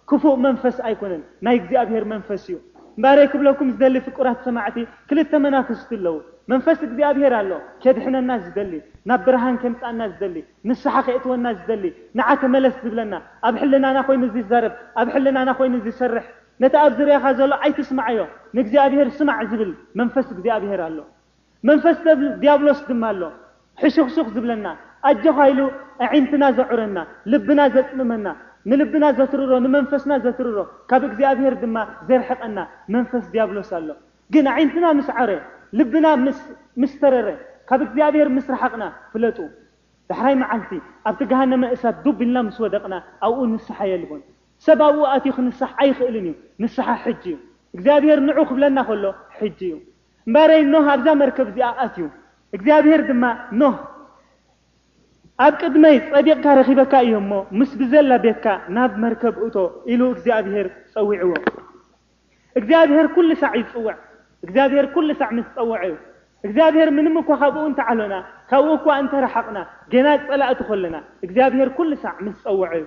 ክፉእ መንፈስ ኣይኮነን ናይ እግዚኣብሔር መንፈስ እዩ እምበኣረይ ክብለኩም ዝደሊ ፍቁራት ሰማዕቲ ክልተ መናፍስቲ ኣለዉ መንፈስ እግዚኣብሔር ኣሎ ኬድሕነና ዝደሊ ናብ ብርሃን ኬምጽኣና ዝደሊ ንስሓ ኼእትወና ዝደሊ ንዓ ተመለስ ዝብለና ኣብ ሕልናና ኮይኑ ዚዛረብ ኣብ ሕልናና ኮይኑ ዚሰርሕ ነቲ ኣብ ዝርያኻ ዘሎ ኣይትስምዓዮ ንእግዚኣብሔር ስማዕ ዝብል መንፈስ እግዚኣብሔር ኣሎ መንፈስ ዲያብሎስ ድማ ኣሎ ሕሹኽሹኽ ዝብለና፣ ኣጆኻ ኢሉ ኣዒንትና ዘዑረና፣ ልብና ዘጽምመና፣ ንልብና ዘትርሮ፣ ንመንፈስና ዘትርሮ፣ ካብ እግዚኣብሄር ድማ ዘርሕቐና መንፈስ ዲያብሎስ ኣሎ። ግን ኣዒንትና ምስ ዐረ፣ ልብና ምስ ተረረ፣ ካብ እግዚኣብሄር ምስ ረሓቕና፣ ፍለጡ ዳሕራይ መዓልቲ ኣብቲ ገሃነመ እሳት ዱብ ኢልና ምስ ወደቕና ኣብኡ ንስሓ የልቦን። ሰብ ኣብኡ ኣትዩ ክንሳሕ ኣይኽእልን እዩ። ንስሓ ሕጂ እዩ። እግዚኣብሄር ንዑ ክብለና ከሎ ሕጂ እዩ። እምበኣረይ ኖህ ኣብዛ መርከብ እዚኣ ኣትዩ። እግዚኣብሄር ድማ፣ ኖህ፣ ኣብ ቅድመይ ጸዲቕካ ረኺበካ እየ እሞ፣ ምስ ብዘላ ቤትካ ናብ መርከብ እቶ፣ ኢሉ እግዚኣብሄር ጸዊዕዎ። እግዚኣብሄር ኩሉ ሳዕ ይጽውዕ። እግዚኣብሄር ኩሉ ሳዕ ምስ ጸውዐ እዩ። እግዚኣብሄር ምንም እኳ ካብኡ እንተ ዓሎና፣ ካብኡ እኳ እንተ ረሓቕና፣ ገና ጸላእቲ ከሎና፣ እግዚኣብሄር ኩሉ ሳዕ ምስ ጸውዐ እዩ።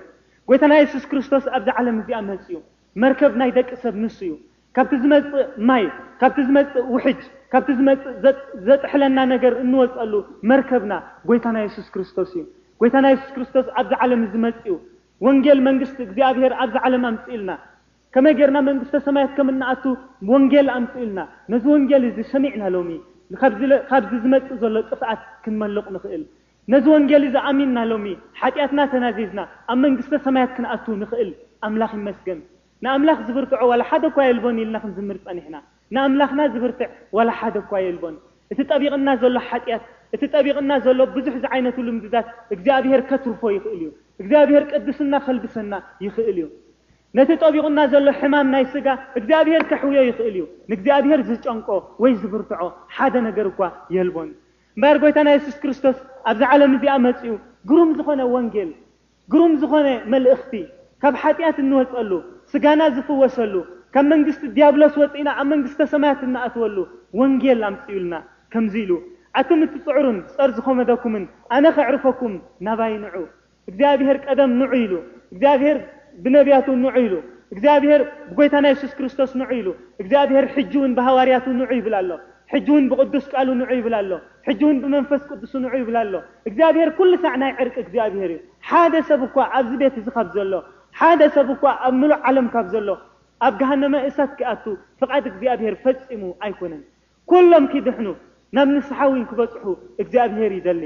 ጐይታና የሱስ ክርስቶስ ኣብዛ ዓለም እዚኣ መጺኡ። መርከብ ናይ ደቂ ሰብ ንሱ እዩ። ካብቲ ዝመጽእ ማይ፣ ካብቲ ዝመጽእ ውሕጅ፣ ካብቲ ዝመጽእ ዘጥሕለና ነገር እንወጸሉ መርከብና ጎይታና የሱስ ክርስቶስ እዩ። ጎይታና የሱስ ክርስቶስ ኣብዚ ዓለም እዚ መጺኡ ወንጌል መንግስቲ እግዚኣብሄር ኣብዚ ዓለም ኣምጺኡልና። ከመይ ጌርና መንግስተ ሰማያት ከም እንኣቱ ወንጌል ኣምጺኡልና። ነዚ ወንጌል እዚ ሰሚዕና ሎሚ ካብዚ ካብዚ ዝመጽእ ዘሎ ጥፍኣት ክንመልቕ ንኽእል። ነዚ ወንጌል እዚ ኣሚንና ሎሚ ሓጢኣትና ተናዚዝና ኣብ መንግስተ ሰማያት ክንኣቱ ንኽእል ኣምላኽ ይመስገን። ንኣምላኽ ዝብርትዖ ዋላ ሓደ እኳ የልቦን ኢልና ክንዝምር ጸኒሕና። ንኣምላኽና ዝብርትዕ ዋላ ሓደ እኳ የልቦን። እቲ ጠቢቕና ዘሎ ሓጢኣት እቲ ጠቢቕና ዘሎ ብዙሕ ዝዓይነቱ ልምድታት እግዚኣብሄር ከትርፎ ይኽእል እዩ። እግዚኣብሄር ቅድስና ከልብሰና ይኽእል እዩ። ነቲ ጠቢቑና ዘሎ ሕማም ናይ ስጋ እግዚኣብሄር ከሕውዮ ይኽእል እዩ። ንእግዚኣብሄር ዝጨንቆ ወይ ዝብርትዖ ሓደ ነገር እኳ የልቦን። እምበኣር ጎይታና የሱስ ክርስቶስ ኣብዛ ዓለም እዚኣ መጺኡ ግሩም ዝኾነ ወንጌል ግሩም ዝኾነ መልእኽቲ ካብ ሓጢኣት እንወጸሉ ስጋና ዝፍወሰሉ ካብ መንግስቲ ድያብሎስ ወጺእና ኣብ መንግስተ ሰማያት እንኣትወሉ ወንጌል ኣምጺኡልና ከምዚ ኢሉ ኣቱም እትጽዕሩን ጸር ዝኾመደኩምን ኣነ ከዕርፈኩም ናባይ ንዑ እግዚኣብሔር ቀደም ንዑ ኢሉ፣ እግዚኣብሔር ብነብያቱ ንዑ ኢሉ፣ እግዚኣብሔር ብጎይታና የሱስ ክርስቶስ ንዑ ኢሉ፣ እግዚኣብሔር ሕጂ ውን ብሃዋርያቱ ንዑ ይብል ኣሎ፣ ሕጂ ውን ብቅዱስ ቃሉ ንዑ ይብል ኣሎ፣ ሕጂ ውን ብመንፈስ ቅዱሱ ንዑ ይብል ኣሎ። እግዚኣብሔር ኩሉ ሳዕ ናይ ዕርቂ እግዚኣብሔር እዩ። ሓደ ሰብ እኳ ኣብዚ ቤት እዚ ካብ ዘሎ፣ ሓደ ሰብ እኳ ኣብ ምሉእ ዓለም ካብ ዘሎ ኣብ ገሃነመ እሳት ኪኣቱ ፍቃድ እግዚኣብሔር ፈጺሙ ኣይኮነን። ኩሎም ኪድሕኑ ናብ ንስሓ ዊን ክበጽሑ እግዚኣብሄር ይደሊ።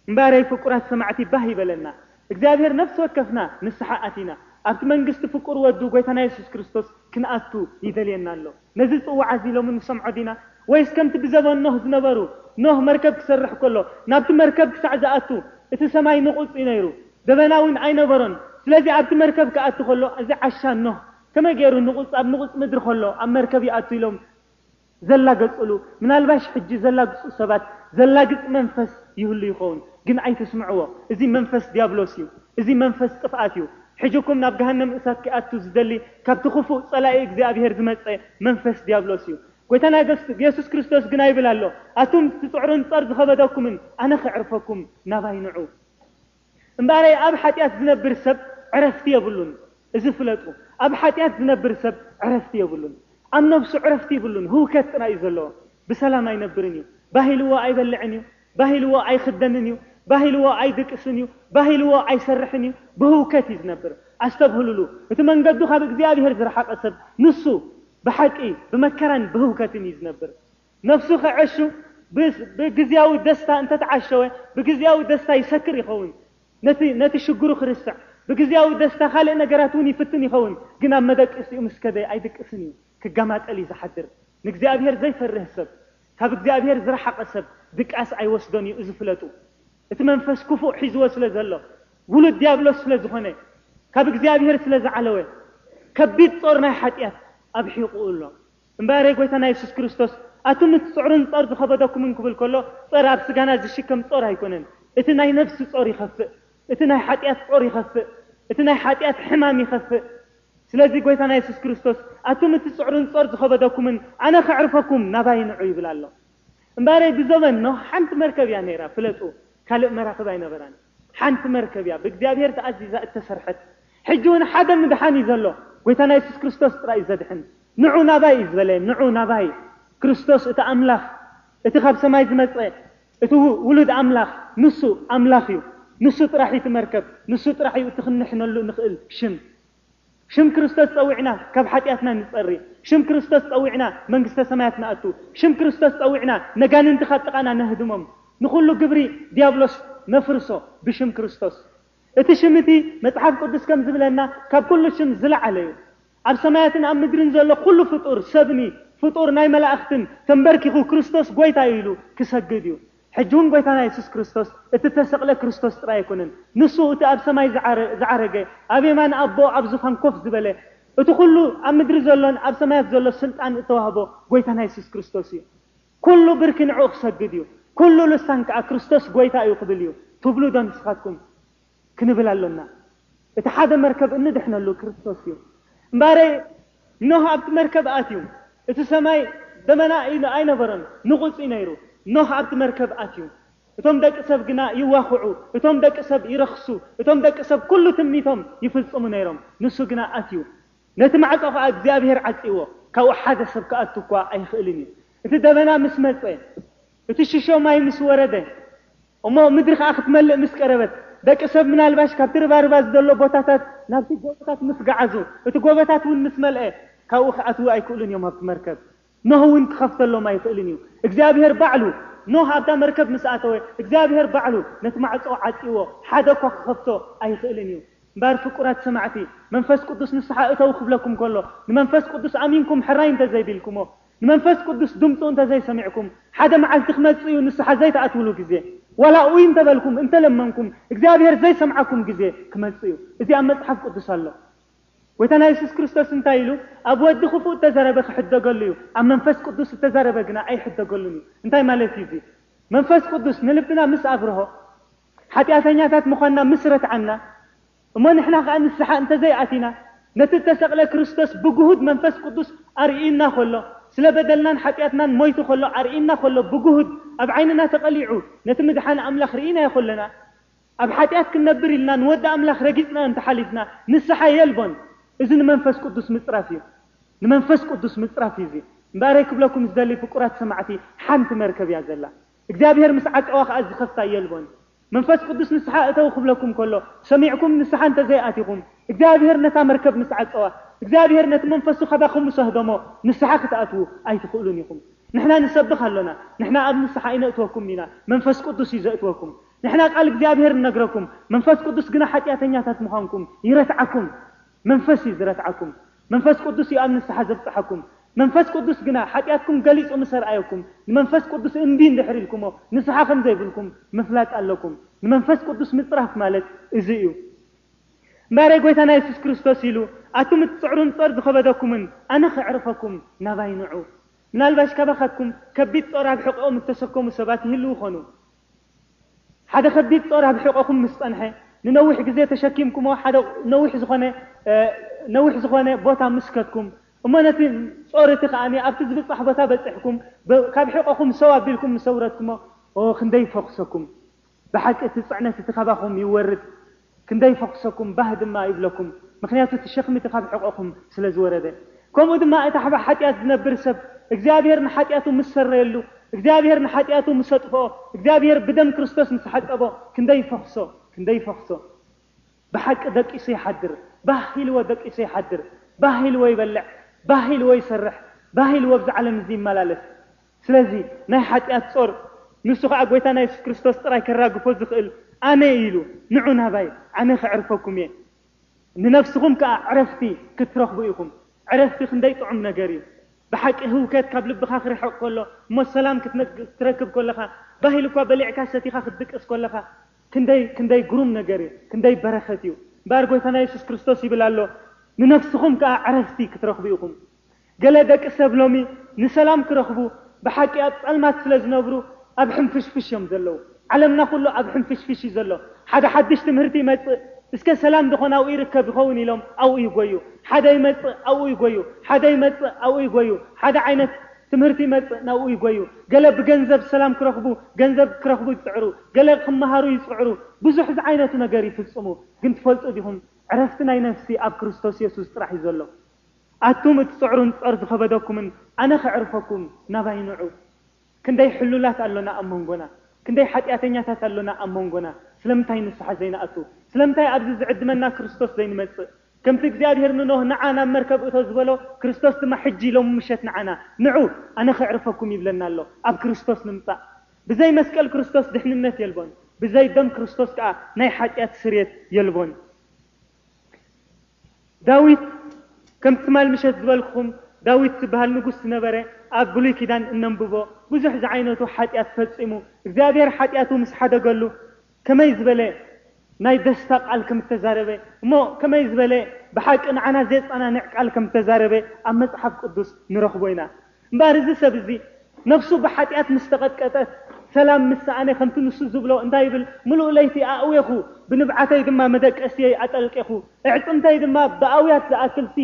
እምባረይ ፍቁራት ሰማዕቲ ባህ ይበለና እግዚኣብሄር ነፍሲ ወከፍና ንስሓ ኣቲና ኣብቲ መንግስቲ ፍቁር ወዱ ጎይታና የሱስ ክርስቶስ ክንኣቱ ይደልየና ኣሎ። ነዚ ጽውዓ እዚ ሎሚ ንሰምዖ ዲና ወይስ ከምቲ ብዘበን ኖህ ዝነበሩ ኖህ መርከብ ክሰርሕ ከሎ ናብቲ መርከብ ክሳዕ ዝኣቱ እቲ ሰማይ ንቑጽ እዩ ነይሩ ደበና ዊን ኣይነበሮን ስለዚ ኣብቲ መርከብ ክኣቱ ከሎ እዚ ዓሻ ኖህ ከመይ ገይሩ ንቑጽ ኣብ ንቑጽ ምድሪ ከሎ ኣብ መርከብ ይኣቱ ኢሎም ዘላገጽሉ ምናልባሽ ሕጂ ዘላግጹ ሰባት ዘላግጽ መንፈስ ይህሉ ይኸውን ግን ኣይትስምዕዎ እዚ መንፈስ ድያብሎስ እዩ እዚ መንፈስ ጥፍኣት እዩ ሕጅኩም ናብ ገሃነም እሳት ኪኣቱ ዝደሊ ካብቲ ክፉእ ጸላኢ እግዚኣብሄር ዝመጸ መንፈስ ድያብሎስ እዩ ጎይታና የሱስ ክርስቶስ ግና ይብል ኣሎ ኣቱም ትጽዕሩን ጸር ዝኸበደኩምን ኣነ ኬዕርፈኩም ናባይ ንዑ። እምበኣረይ ኣብ ሓጢኣት ዝነብር ሰብ ዕረፍቲ የብሉን። እዚ ፍለጡ፣ ኣብ ሓጢኣት ዝነብር ሰብ ዕረፍቲ የብሉን። ኣብ ነብሱ ዕረፍቲ ይብሉን፣ ህውከት ጥራይ እዩ ዘለዎ። ብሰላም ኣይነብርን እዩ። ባህ ኢልዎ ኣይበልዕን እዩ፣ ባህ ኢልዎ ኣይኽደንን እዩ፣ ባህ ኢልዎ ኣይድቅስን እዩ፣ ባህ ኢልዎ ኣይሰርሕን እዩ፣ ብህውከት እዩ ዝነብር። ኣስተብህሉሉ፣ እቲ መንገዱ ካብ እግዚኣብሄር ዝረሓቐ ሰብ ንሱ፣ ብሓቂ፣ ብመከራን ብህውከትን እዩ ዝነብር። ነፍሱ ኸዐሹ ብግዝያዊ ደስታ እንተተዓሸወ ብግዝያዊ ደስታ ይሰክር ይኸውን ነቲ ነቲ ሽግሩ ክርስዕ ብግዝያዊ ደስታ ካልእ ነገራት እውን ይፍትን ይኸውን ግን ኣብ መደቀሲኡ ምስ ከደ ኣይድቅስን እዩ ክገማጠል እዩ ዝሓድር ንእግዚኣብሔር ዘይፈርህ ሰብ ካብ እግዚኣብሔር ዝረሓቐ ሰብ ድቃስ ኣይወስዶን እዩ እዚ ፍለጡ እቲ መንፈስ ክፉእ ሒዝዎ ስለ ዘሎ ውሉድ ዲያብሎስ ስለ ዝኾነ ካብ እግዚኣብሔር ስለ ዝዓለወ ከቢድ ጾር ናይ ሓጢኣት ኣብ ሒቑኡ ኣሎ እምበኣር የጎይታና የሱስ ክርስቶስ ኣቱም እትጽዕሩን ጾር ዝኸበደኩምን ክብል ከሎ ጾር ኣብ ስጋና ዝሽከም ጾር ኣይኮነን እቲ ናይ ነብሲ ጾር ይኸፍእ እቲ ናይ ሓጥያት ጾር ይኸፍእ እቲ ናይ ሓጥያት ሕማም ይኸፍእ ስለዚ ጎይታና የሱስ ክርስቶስ ኣቱም እትጽዕሩን ጾር ዝኸበደኩምን ኣነ ከዕርፈኩም ናባይ ንዑ ይብል ኣሎ እምበኣረይ ብዘበን ኖህ ሓንቲ መርከብ እያ ነይራ ፍለጡ ካልእ መራኽብ ኣይነበራን። ሓንቲ መርከብ እያ ብእግዚኣብሔር ተኣዚዛ እተሰርሐት ሕጂ ውን ሓደ ምድሓን እዩ ዘሎ ጎይታና የሱስ ክርስቶስ ጥራይ እዩ ዘድሕን ንዑ ናባይ እዩ ዝበለ ንዑ ናባይ ክርስቶስ እቲ ኣምላኽ እቲ ካብ ሰማይ ዝመጸ እቲ ውሉድ ኣምላኽ ንሱ ኣምላኽ እዩ ንሱ ጥራሕ እዩ እቲ መርከብ ንሱ ጥራሕ እዩ እቲ ክንሕነሉ እንኽእል ሽም ሽም ክርስቶስ ጸዊዕና ካብ ሓጢኣትና ንጸሪ፣ ሽም ክርስቶስ ጸዊዕና መንግስተ ሰማያት ንኣቱ፣ ሽም ክርስቶስ ጸዊዕና ነጋንንቲ ካብ ጥቓና ነህድሞም፣ ንኹሉ ግብሪ ዲያብሎስ ነፍርሶ ብሽም ክርስቶስ። እቲ ሽም እቲ መጽሓፍ ቅዱስ ከም ዝብለና ካብ ኩሉ ሽም ዝለዓለ እዩ። ኣብ ሰማያትን ኣብ ምድርን ዘሎ ኩሉ ፍጡር ሰብኒ ፍጡር ናይ መላእኽትን ተምበርኪኹ ክርስቶስ ጎይታ እዩ ኢሉ ክሰግድ እዩ። ሕጂ ውን ጎይታና የሱስ ክርስቶስ እቲ እተሰቕለ ክርስቶስ ጥራይ ኣይኮነን፣ ንሱ እቲ ኣብ ሰማይ ዝዓረገ፣ ኣብ የማን ኣቦ ኣብ ዙፋን ኮፍ ዝበለ፣ እቲ ኩሉ ኣብ ምድሪ ዘሎን ኣብ ሰማያት ዘሎ ስልጣን እተዋህቦ ጎይታና የሱስ ክርስቶስ እዩ። ኩሉ ብርኪ ንዕኡ ክሰግድ እዩ፣ ኩሉ ልሳን ከኣ ክርስቶስ ጎይታ እዩ ክብል እዩ ትብሉ ዶ ንስኻትኩም? ክንብል ኣሎና። እቲ ሓደ መርከብ እንድሕነሉ ክርስቶስ እዩ። እምበኣረ ኖህ ኣብቲ መርከብ ኣትዩ። እቲ ሰማይ ደመና ኣይነበሮን፣ ንቑጽ እዩ ነይሩ። ኖህ ኣብቲ መርከብ ኣትዩ። እቶም ደቂ ሰብ ግና ይዋኽዑ፣ እቶም ደቂ ሰብ ይረኽሱ፣ እቶም ደቂ ሰብ ኩሉ ትምኒቶም ይፍጽሙ ነይሮም። ንሱ ግና ኣትዩ። ነቲ ማዕጾ ኸኣ እግዚኣብሄር ዓጽይዎ። ካብኡ ሓደ ሰብ ክኣቱ እኳ ኣይኽእልን እዩ። እቲ ደመና ምስ መጸ፣ እቲ ሽሾ ማይ ምስ ወረደ፣ እሞ ምድሪ ኸኣ ክትመልእ ምስ ቀረበት፣ ደቂ ሰብ ምናልባሽ ካብቲ ርባርባ ዝደሎ ቦታታት ናብቲ ጎቦታት ምስ ገዓዙ፣ እቲ ጎቦታት እውን ምስ መልአ፣ ካብኡ ክኣትዉ ኣይክእሉን እዮም ኣብቲ መርከብ። ኖህ እውን ክኸፍተሎም ኣይክእልን እዩ። እግዚኣብሄር ባዕሉ፣ ኖህ ኣብታ መርከብ ምስ ኣተወ፣ እግዚኣብሄር ባዕሉ ነቲ ማዕጾ ዓጽይዎ፣ ሓደ እኳ ክኸፍቶ ኣይኽእልን እዩ። እምበኣር ፍቁራት ሰማዕቲ፣ መንፈስ ቅዱስ ንስሓ እተዉ ክብለኩም ከሎ፣ ንመንፈስ ቅዱስ ኣሚንኩም ሕራይ እንተ ዘይቢልኩሞ፣ ንመንፈስ ቅዱስ ድምጹ እንተ ዘይሰሚዕኩም፣ ሓደ መዓልቲ ክመጽእ እዩ ንስሓ ዘይትኣትዉሉ ግዜ፣ ዋላ ኡይ እንተ በልኩም፣ እንተ ለመንኩም፣ እግዚኣብሄር ዘይሰምዓኩም ግዜ ክመጽእ እዩ። እዚ ኣብ መጽሓፍ ቅዱስ ኣሎ። ጎይታና የሱስ ክርስቶስ እንታይ ኢሉ? ኣብ ወዲ ክፉእ እተዘረበ ክሕደገሉ እዩ፣ ኣብ መንፈስ ቅዱስ እተዘረበ ግና ኣይሕደገሉን እዩ። እንታይ ማለት እዩ እዚ? መንፈስ ቅዱስ ንልብና ምስ ኣብርሆ፣ ሓጢኣተኛታት ምዃንና ምስ ረትዓና እሞ ንሕና ኸኣ ንስሓ እንተ ዘይኣቲና፣ ነቲ እተሰቕለ ክርስቶስ ብግሁድ መንፈስ ቅዱስ ኣርእዩና ኸሎ፣ ስለ በደልናን ሓጢኣትናን ሞይቱ ኸሎ ኣርእዩና ኸሎ ብግሁድ ኣብ ዓይንና ተቐሊዑ ነቲ ምድሓን ኣምላኽ ርኢናዮ ኸሎና፣ ኣብ ሓጢኣት ክንነብር ኢልና ንወዲ ኣምላኽ ረጊጽናዮ እንተ ሓሊፍና ንስሓ የልቦን። እዚ ንመንፈስ ቅዱስ ምጽራፍ እዩ። ንመንፈስ ቅዱስ ምጽራፍ እዩ እዚ። እምበኣረይ ክብለኩም ዝደሊ ፍቁራት ሰማዕቲ ሓንቲ መርከብ እያ ዘላ። እግዚኣብሄር ምስ ዓቀዋ ከኣ ዚኸፍታ የልቦን። መንፈስ ቅዱስ ንስሓ እተዉ ክብለኩም ከሎ፣ ሰሚዕኩም ንስሓ እንተ ዘይኣቲኹም፣ እግዚኣብሄር ነታ መርከብ ምስ ዓቀዋ፣ እግዚኣብሄር ነቲ መንፈሱ ካባኹም ምስ ኣህበሞ፣ ንስሓ ክትኣትዉ ኣይትኽእሉን ኢኹም። ንሕና ንሰብኽ ኣሎና፣ ንሕና ኣብ ንስሓ ኣይነእትወኩምን ኢና፣ መንፈስ ቅዱስ እዩ ዘእትወኩም። ንሕና ቃል እግዚኣብሄር ንነግረኩም፣ መንፈስ ቅዱስ ግና ሓጢኣተኛታት ምዃንኩም ይረትዓኩም። መንፈስ እዩ ዝረትዓኩም፣ መንፈስ ቅዱስ እዩ ኣብ ንስሓ ዘብጽሓኩም፣ መንፈስ ቅዱስ ግና ሓጢኣትኩም ገሊጹ ምስ ኣርኣየኩም፣ ንመንፈስ ቅዱስ እምቢ እንድሕር ኢልኩሞ ንስሓ ከም ዘይብልኩም ምፍላጥ ኣለኩም። ንመንፈስ ቅዱስ ምጽራፍ ማለት እዚ እዩ። እምበኣረይ ጎይታና የሱስ ክርስቶስ ኢሉ ኣቱም እትጽዕሩን ጾር ዝኸበደኩምን ኣነ ከዕርፈኩም ናባይ ንዑ። ምናልባሽ ካባኻትኩም ከቢድ ጾር ኣብ ሕቘኦም እተሰከሙ ሰባት ይህልዉ ይኾኑ። ሓደ ከቢድ ጾር ኣብ ሕቖኹም ምስ ጸንሐ፣ ንነዊሕ ግዜ ተሸኪምኩሞ ሓደ ነዊሕ ዝኾነ ነዊሕ ዝኾነ ቦታ ምስ ከድኩም፣ እሞ ነቲ ጾር እቲ ከኣ ኣብቲ ዝብጻሕ ቦታ በጺሕኩም ካብ ሕቖኹም ሰው ኣቢልኩም ምስ ኣውረድኩሞ፣ ኦህ ክንደይ ይፈኹሰኩም። ብሓቂ እቲ ጽዕነት እቲ ካባኹም ይወርድ። ክንደይ ይፈኹሰኩም ባህ ድማ ይብለኩም ምኽንያቱ እቲ ሸኽሚ እቲ ካብ ሕቖኹም ስለ ዝወረደ። ከምኡ ድማ እቲ ኣብ ሓጢኣት ዝነብር ሰብ እግዚኣብሄር ንሓጢኣቱ ምስ ሰረየሉ፣ እግዚኣብሄር ንሓጢኣቱ ምስ ኣጥፍኦ፣ እግዚኣብሄር ብደም ክርስቶስ ምስ ሓጸቦ ክንደይ ይፈኹሶ ክንደይ ይፈኹሶ። ብሓቂ ደቂሱ ይሓድር ባህ ኢልዎ ደቂሱ ይሓድር ባህ ኢልዎ ይበልዕ ባህ ኢልዎ ይሰርሕ ባህ ኢልዎ ኣብዚ ዓለም እዚ ይመላለስ። ስለዚ ናይ ሓጢኣት ጾር ንሱ ከኣ ጎይታና የሱስ ክርስቶስ ጥራይ ከራግፎ ዝኽእል ኣነ እዩ ኢሉ ንዑ ናባይ ኣነ ከዕርፈኩም እየ ንነፍስኹም ከኣ ዕረፍቲ ክትረኽቡ ኢኹም ዕረፍቲ ክንደይ ጥዑም ነገር እዩ ብሓቂ ህውከት ካብ ልብኻ ክርሕቕ ከሎ እሞ ሰላም ክትረክብ ከለኻ ባህ ኢሉኳ በሊዕካ ሰቲኻ ክትድቅስ ከለኻ ክንደይ ክንደይ ግሩም ነገር እዩ ክንደይ በረኸት እዩ እምበኣር ጎይታና የሱስ ክርስቶስ ይብል ኣሎ ንነፍስኹም ከኣ ዕረፍቲ ክትረኽቡ ኢኹም ገለ ደቂ ሰብ ሎሚ ንሰላም ክረኽቡ ብሓቂ ኣብ ጸልማት ስለ ዝነብሩ ኣብ ሕንፍሽፍሽ እዮም ዘለዉ። ዓለምና ኩሉ ኣብ ሕንፍሽፍሽ እዩ ዘሎ። ሓደ ሓድሽ ትምህርቲ ይመጽእ እስከ ሰላም ደኾን ኣብኡ ይርከብ ይኸውን ኢሎም ኣብኡ ይጎዩ። ሓደ ይመጽእ ኣብኡ ይጎዩ። ሓደ ይመጽእ ኣብኡ ይጎዩ። ሓደ ዓይነት ትምህርቲ ይመጽእ ናብኡ ይጎዩ። ገለ ብገንዘብ ሰላም ክረኽቡ ገንዘብ ክረኽቡ ይጽዕሩ። ገለ ክመሃሩ ይጽዕሩ። ብዙሕ ዝዓይነቱ ነገር ይፍጽሙ። ግን ትፈልጡ ዲኹም ዕረፍቲ ናይ ነፍሲ ኣብ ክርስቶስ የሱስ ጥራሕ እዩ ዘሎ። ኣቱም እትጽዕሩን ጾር ዝኸበደኩምን ኣነ ከዕርፈኩም ናባይ ንዑ። ክንደይ ሕሉላት ኣሎና ኣብ መንጎና? ክንደይ ሓጢኣተኛታት ኣሎና ኣብ መንጎና? ስለምንታይ ንስሓ ዘይንኣቱ? ስለምንታይ ኣብዚ ዝዕድመና ክርስቶስ ዘይንመጽእ? ከምቲ እግዚኣብሄር ንኖህ ንዓ ናብ መርከብ እቶ ዝበሎ ክርስቶስ ድማ ሕጂ ሎሚ ምሸት ንዓና ንዑ ኣነ ከዕርፈኩም ይብለና ኣሎ። ኣብ ክርስቶስ ንምጻእ። ብዘይ መስቀል ክርስቶስ ድሕንነት የልቦን። ብዘይ ደም ክርስቶስ ከኣ ናይ ሓጢኣት ስርየት የልቦን። ዳዊት ከም ትማል ምሸት ዝበልክኹም ዳዊት ዝብሃል ንጉስ ዝነበረ ኣብ ብሉይ ኪዳን እነንብቦ ብዙሕ ዝዓይነቱ ሓጢኣት ፈጺሙ እግዚኣብሔር ሓጢኣቱ ምስ ሓደገሉ ከመይ ዝበለ ናይ ደስታ ቃል ከም እተዛረበ እሞ ከመይ ዝበለ ብሓቂ ንዓና ዜጸናንዕ ቃል ከም እተዛረበ ኣብ መጽሓፍ ቅዱስ ንረኽቦ ኢና። እምበኣር እዚ ሰብ እዚ ነፍሱ ብሓጢኣት ምስ ተቐጥቀጠት፣ ሰላም ምስ ሰኣነ ከምቲ ንሱ ዝብሎ እንታይ ይብል፣ ምሉእ ለይቲ ኣእዌኹ፣ ብንብዓተይ ድማ መደቀሲየይ ኣጠልቄኹ፣ ኣዕጽምተይ ድማ ብኣውያት ዝኣክልሲ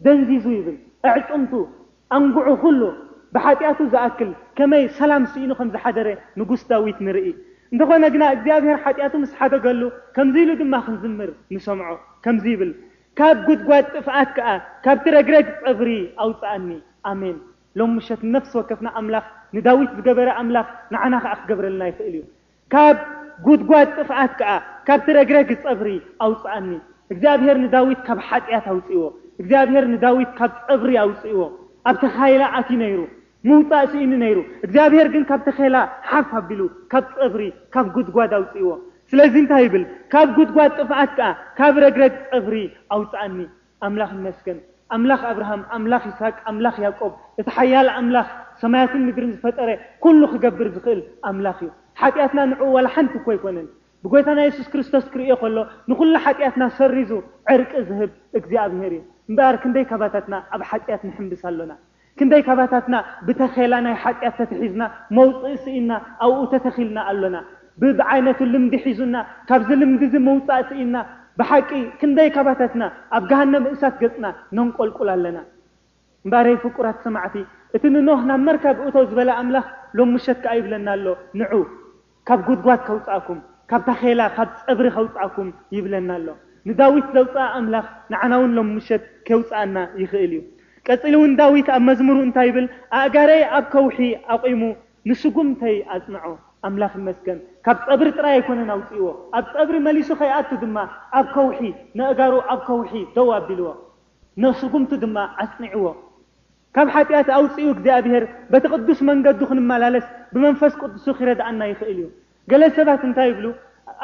ደንዚዙ ይብል። ኣዕጽምቱ፣ ኣንጉዑ ኩሉ፣ ብሓጢኣቱ ዝኣክል ከመይ ሰላም ስኢኑ ከም ዝሓደረ ንጉስ ዳዊት ንርኢ። እንተኾነ ግና እግዚኣብሄር ሓጢኣቱ ምስ ሓደገሉ ከምዚ ኢሉ ድማ ክዝምር ንሰምዖ። ከምዚ ይብል፣ ካብ ጉድጓድ ጥፍኣት ከኣ ካብቲ ረግረግ ጸጉሪ ኣውጽኣኒ። ኣሜን። ሎሚ ምሸት ንነፍሲ ወከፍና ኣምላኽ ንዳዊት ዝገበረ ኣምላኽ ንዓና ከኣ ክገብረልና ይኽእል እዩ። ካብ ጉድጓድ ጥፍኣት ከኣ ካብቲ ረግረግ ጸጉሪ ኣውጽኣኒ። እግዚኣብሄር ንዳዊት ካብ ሓጥያት ኣውጺእዎ። እግዚኣብሄር ንዳዊት ካብ ጸጉሪ ኣውጺእዎ። ኣብ ተኻይላ ኣትዩ ነይሩ። ምውጻእ ስኢኑ ነይሩ፣ እግዚኣብሄር ግን ካብ ተኼላ ሓፍ ኣቢሉ፣ ካብ ጸብሪ፣ ካብ ጕድጓድ ኣውጽእዎ። ስለዚ እንታይ ይብል? ካብ ጕድጓድ ጥፍኣት ከኣ፣ ካብ ረግረግ ጸብሪ ኣውጽኣኒ። ኣምላኽ ይመስገን! ኣምላኽ ኣብርሃም፣ ኣምላኽ ይስሃቅ፣ ኣምላኽ ያእቆብ፣ እቲ ሓያል ኣምላኽ፣ ሰማያትን ምድርን ዝፈጠረ፣ ኵሉ ኺገብር ዚኽእል ኣምላኽ እዩ። ሓጢኣትና ንዕኡ ዋላ ሓንቲ እኮ ኣይኰነን። ብጐይታና የሱስ ክርስቶስ ኪርእዮ ኸሎ፣ ንዅሉ ሓጢኣትና ሰሪዙ ዕርቂ ዚህብ እግዚኣብሄር እዩ። እምበኣር ክንደይ ካባታትና ኣብ ሓጢኣት ንሕምብስ ኣሎና? ክንደይ ካባታትና ብተኼላ ናይ ሓጢኣት ተተሒዝና መውጽኢ ስኢንና ኣብኡ ተተኺልና ኣሎና። ብ ብዓይነቱ ልምዲ ሒዙና ካብዚ ልምዲ እዚ ምውጻእ ስኢንና ብሓቂ ክንደይ ካባታትና ኣብ ገሃነም እሳት ገጽና ነንቆልቁል ኣለና። እምበኣረይ ፍቁራት ሰማዕቲ እቲ ንኖህ ናብ መርካብ እቶ ዝበለ ኣምላኽ ሎሚ ምሸት ከኣ ይብለና ኣሎ ንዑ! ካብ ጉድጓድ ከውጽኣኩም፣ ካብ ታኼላ፣ ካብ ጸብሪ ከውጽኣኩም ይብለና ኣሎ። ንዳዊት ዘውጽኣ ኣምላኽ ንዓናውን ሎሚ ምሸት ኬውጽኣና ይኽእል እዩ። ቀጺሉ እውን ዳዊት ኣብ መዝሙሩ እንታይ ይብል? ኣእጋረይ ኣብ ከውሒ ኣቝሙ ንስጕምተይ ኣጽንዖ። ኣምላኽ ይመስገን ካብ ጸብሪ ጥራይ ኣይኮነን ኣውጺእዎ፣ ኣብ ጸብሪ መሊሱ ከይኣቱ ድማ ኣብ ከውሒ፣ ነእጋሩ ኣብ ከውሒ ደው ኣቢልዎ፣ ነስጕምቱ ድማ ኣጽኒዕዎ። ካብ ሓጢኣት ኣውጺኡ እግዚኣብሄር በቲ ቅዱስ መንገዱ ክንመላለስ ብመንፈስ ቅዱሱ ኺረድኣና ይኽእል እዩ። ገለ ሰባት እንታይ ይብሉ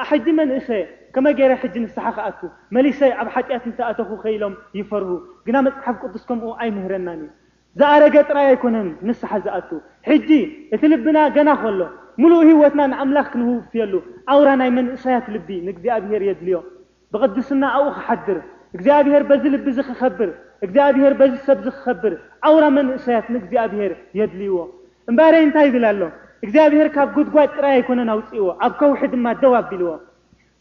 ኣሕጂ መን እኸ ከመይ ገይረ ሕጂ ንስሓ ክኣቱ መሊሰ ኣብ ሓጢኣት እንተ ኣተኹ ከ ኢሎም ይፈርሁ ግና መጽሓፍ ቅዱስ ከምኡ ኣይምህረናን እዩ። ዝኣረገ ጥራይ ኣይኮነን ንስሓ ዝኣቱ ሕጂ እቲ ልብና ገና ከሎ ምሉእ ህይወትና ንኣምላኽ ክንውፍየሉ ኣውራ ናይ መንእሰያት ልቢ ንእግዚኣብሄር የድልዮ። ብቕድስናኣኡ ኺሓድር፣ እግዚኣብሄር በዚ ልቢዚ ኺኸብር፣ እግዚኣብሄር በዚ ሰብዚ ኺኸብር፣ ኣውራ መንእሰያት ንእግዚኣብሄር የድልይዎ። እምበኣረይ እንታይ ይብል ኣሎ? እግዚኣብሄር ካብ ጕድጓድ ጥራይ ኣይኰነን ኣውጺእዎ፣ ኣብ ከውሒ ድማ ደው ኣቢልዎ።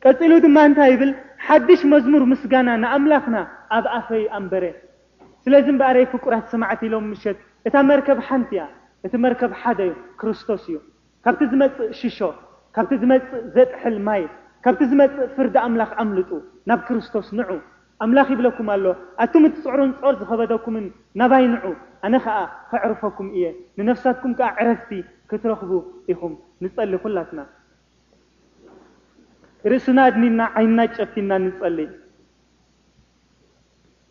ቀጺሉ ድማ እንታይ ይብል? ሓድሽ መዝሙር ምስጋና ንኣምላኽና ኣብ ኣፈይ ኣንበረ። ስለዚ እምበኣረይ ፍቁራት ሰማዕቲ ሎሚ ምሸት፣ እታ መርከብ ሓንቲ እያ፣ እቲ መርከብ ሓደ እዩ፣ ክርስቶስ እዩ። ካብቲ ዝመጽእ ሽሾ፣ ካብቲ ዝመጽእ ዘጥሕል ማይ፣ ካብቲ ዝመጽእ ፍርዲ ኣምላኽ ኣምልጡ፣ ናብ ክርስቶስ ንዑ። ኣምላኽ ይብለኩም ኣሎ፣ ኣቱም እትጽዕሩን ጾር ዝኸበደኩምን፣ ናባይ ንዑ፣ ኣነ ኸኣ ኸዕርፈኩም እየ፣ ንነፍሳትኩም ከኣ ዕረፍቲ ክትረኽቡ ኢኹም። ንጸሊ ኩላትና ርእስና ኣድኒና ዓይንና ጨፊና ንጸሊ።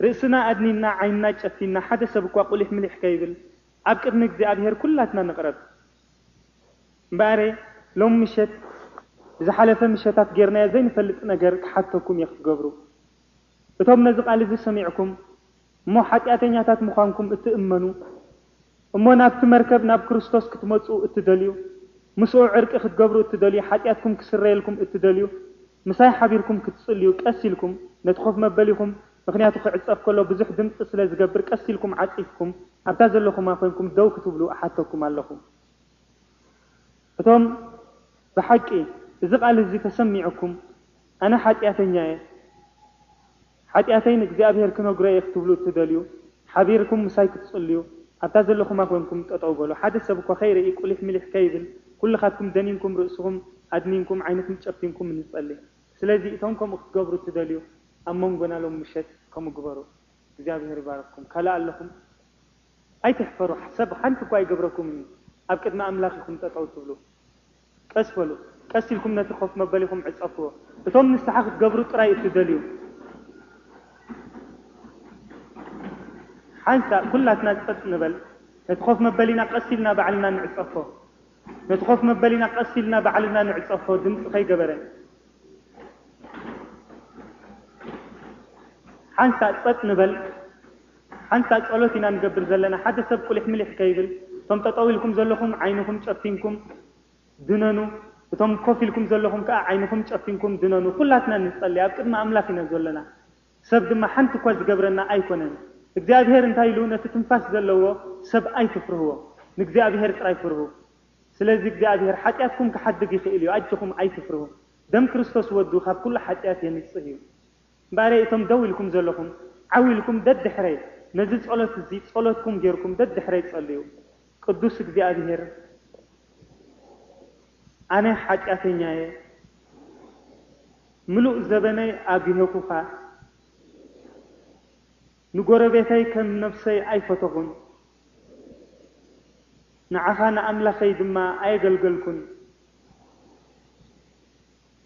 ርእስና ኣድኒና ዓይንና ጨፊና ሓደ ሰብ እኳ ቁሊሕ ምሊሕ ከይብል ኣብ ቅድሚ እግዚኣብሄር ኩላትና ንቕረብ። እምበኣርየ ሎሚ ምሸት ብዝሓለፈ ምሸታት ጌርናዮ ዘይንፈልጥ ነገር ክሓተኩም እየ ክትገብሩ። እቶም ነዚ ቃል እዚ ሰሚዕኩም እሞ ሓጢኣተኛታት ምዃንኩም እትእመኑ እሞ ናብቲ መርከብ ናብ ክርስቶስ ክትመጽኡ እትደልዩ ምስኡ ዕርቂ ክትገብሩ እትደልዩ ሓጢኣትኩም ክስረየልኩም እትደልዩ ምሳይ ሓቢርኩም ክትጽልዩ ቀስ ኢልኩም ነቲ ኮፍ መበሊኹም ምኽንያቱ ክዕጸፍ ከሎ ብዙሕ ድምጺ ስለ ዝገብር ቀስ ኢልኩም ዓጺፍኩም ኣብታ ዘለኹማ ኮንኩም ደው ክትብሉ እሓተኩም ኣለኹ እቶም ብሓቂ እዚ ቃል እዚ ተሰሚዑኩም ኣነ ሓጥያተኛ እየ ሓጢኣተይ ንእግዚኣብሄር ክነግሮ እየ ክትብሉ እትደልዩ፣ ሓቢርኩም ምሳይ ክትጽልዩ፣ ኣብታ ዘለኹማ ኰንኩም ጠጠው በሉ። ሓደ ሰብ እኳ ከይርኢ፣ ቍሊሕ ምሊሕ ከይብል፣ ኵልኻትኩም ደኒንኩም ርእስኹም ኣድኒንኩም፣ ዓይንኹም ጨፊንኩም ንጸሊ። ስለዚ፣ እቶም ከምኡ ክትገብሩ እትደልዩ፣ ኣብ መንጎና ሎሚ ምሸት ከምኡ ግበሩ። እግዚኣብሄር ይባርኽኩም። ካልእ ኣለኹም? ኣይትሕፈሩ፣ ሰብ ሓንቲ እኳ ኣይገብረኩምን እዩ፣ ኣብ ቅድሚ ኣምላኽ ኢኹም ጠጠው እትብሉ። ቀስ በሉ፣ ቀስ ኢልኩም ነቲ ኮፍ መበሊኹም ዕጸፍዎ። እቶም ንስሓ ክትገብሩ ጥራይ እትደልዩ፣ ሓንሳእ ኩላትና ጸጥ ንበል። ነቲ ኮፍ መበሊና ቀስ ኢልና ባዕልና ንዕጸፎ። ነቲ ኮፍ መበሊና ቀስ ኢልና ባዕልና ንዕጸፎ፣ ድምጺ ከይገበረ። ሓንሳእ ጸጥ ንበል። ሓንሳእ ጸሎት ኢና ንገብር ዘለና ሓደ ሰብ ቁሊሕምሊሕ ከይብል እቶም ጠጠው ኢልኩም ዘለኹም ዓይንኹም ጨፊንኩም ድነኑ እቶም ኮፍ ኢልኩም ዘለኹም ከኣ ዓይንኹም ጨፊንኩም ድነኑ ኩላትና ንጸሊ ኣብ ቅድሚ ኣምላኽ ኢና ዘሎና ሰብ ድማ ሓንቲ እኳ ዝገብረና ኣይኮነን እግዚኣብሄር እንታይ ኢሉ ነቲ ትንፋስ ዘለዎ ሰብ ኣይትፍርህዎ ንእግዚኣብሄር ጥራይ ፍርሁ ስለዚ እግዚኣብሄር ሓጢኣትኩም ክሓድግ ይኽእል እዩ ኣጆኹም ኣይትፍርሁ ደም ክርስቶስ ወዱ ካብ ኩሉ ሓጢኣት የንጽህ እዩ። እምበኣረይ እቶም ደው ኢልኩም ዘለኹም ዓው ኢልኩም ደድሕረይ ነዚ ጸሎት እዚ ጸሎትኩም ጌርኩም ደድሕረይ ጸልዩ ቅዱስ እግዚኣብሄር ኣነ ሓጢኣተኛ እየ ምሉእ ዘበነይ ኣጒሀኩኻ ንጎረቤተይ ከም ነብሰይ ኣይፈተኹን ንዓኻ ንኣምላኸይ ድማ ኣየገልገልኩን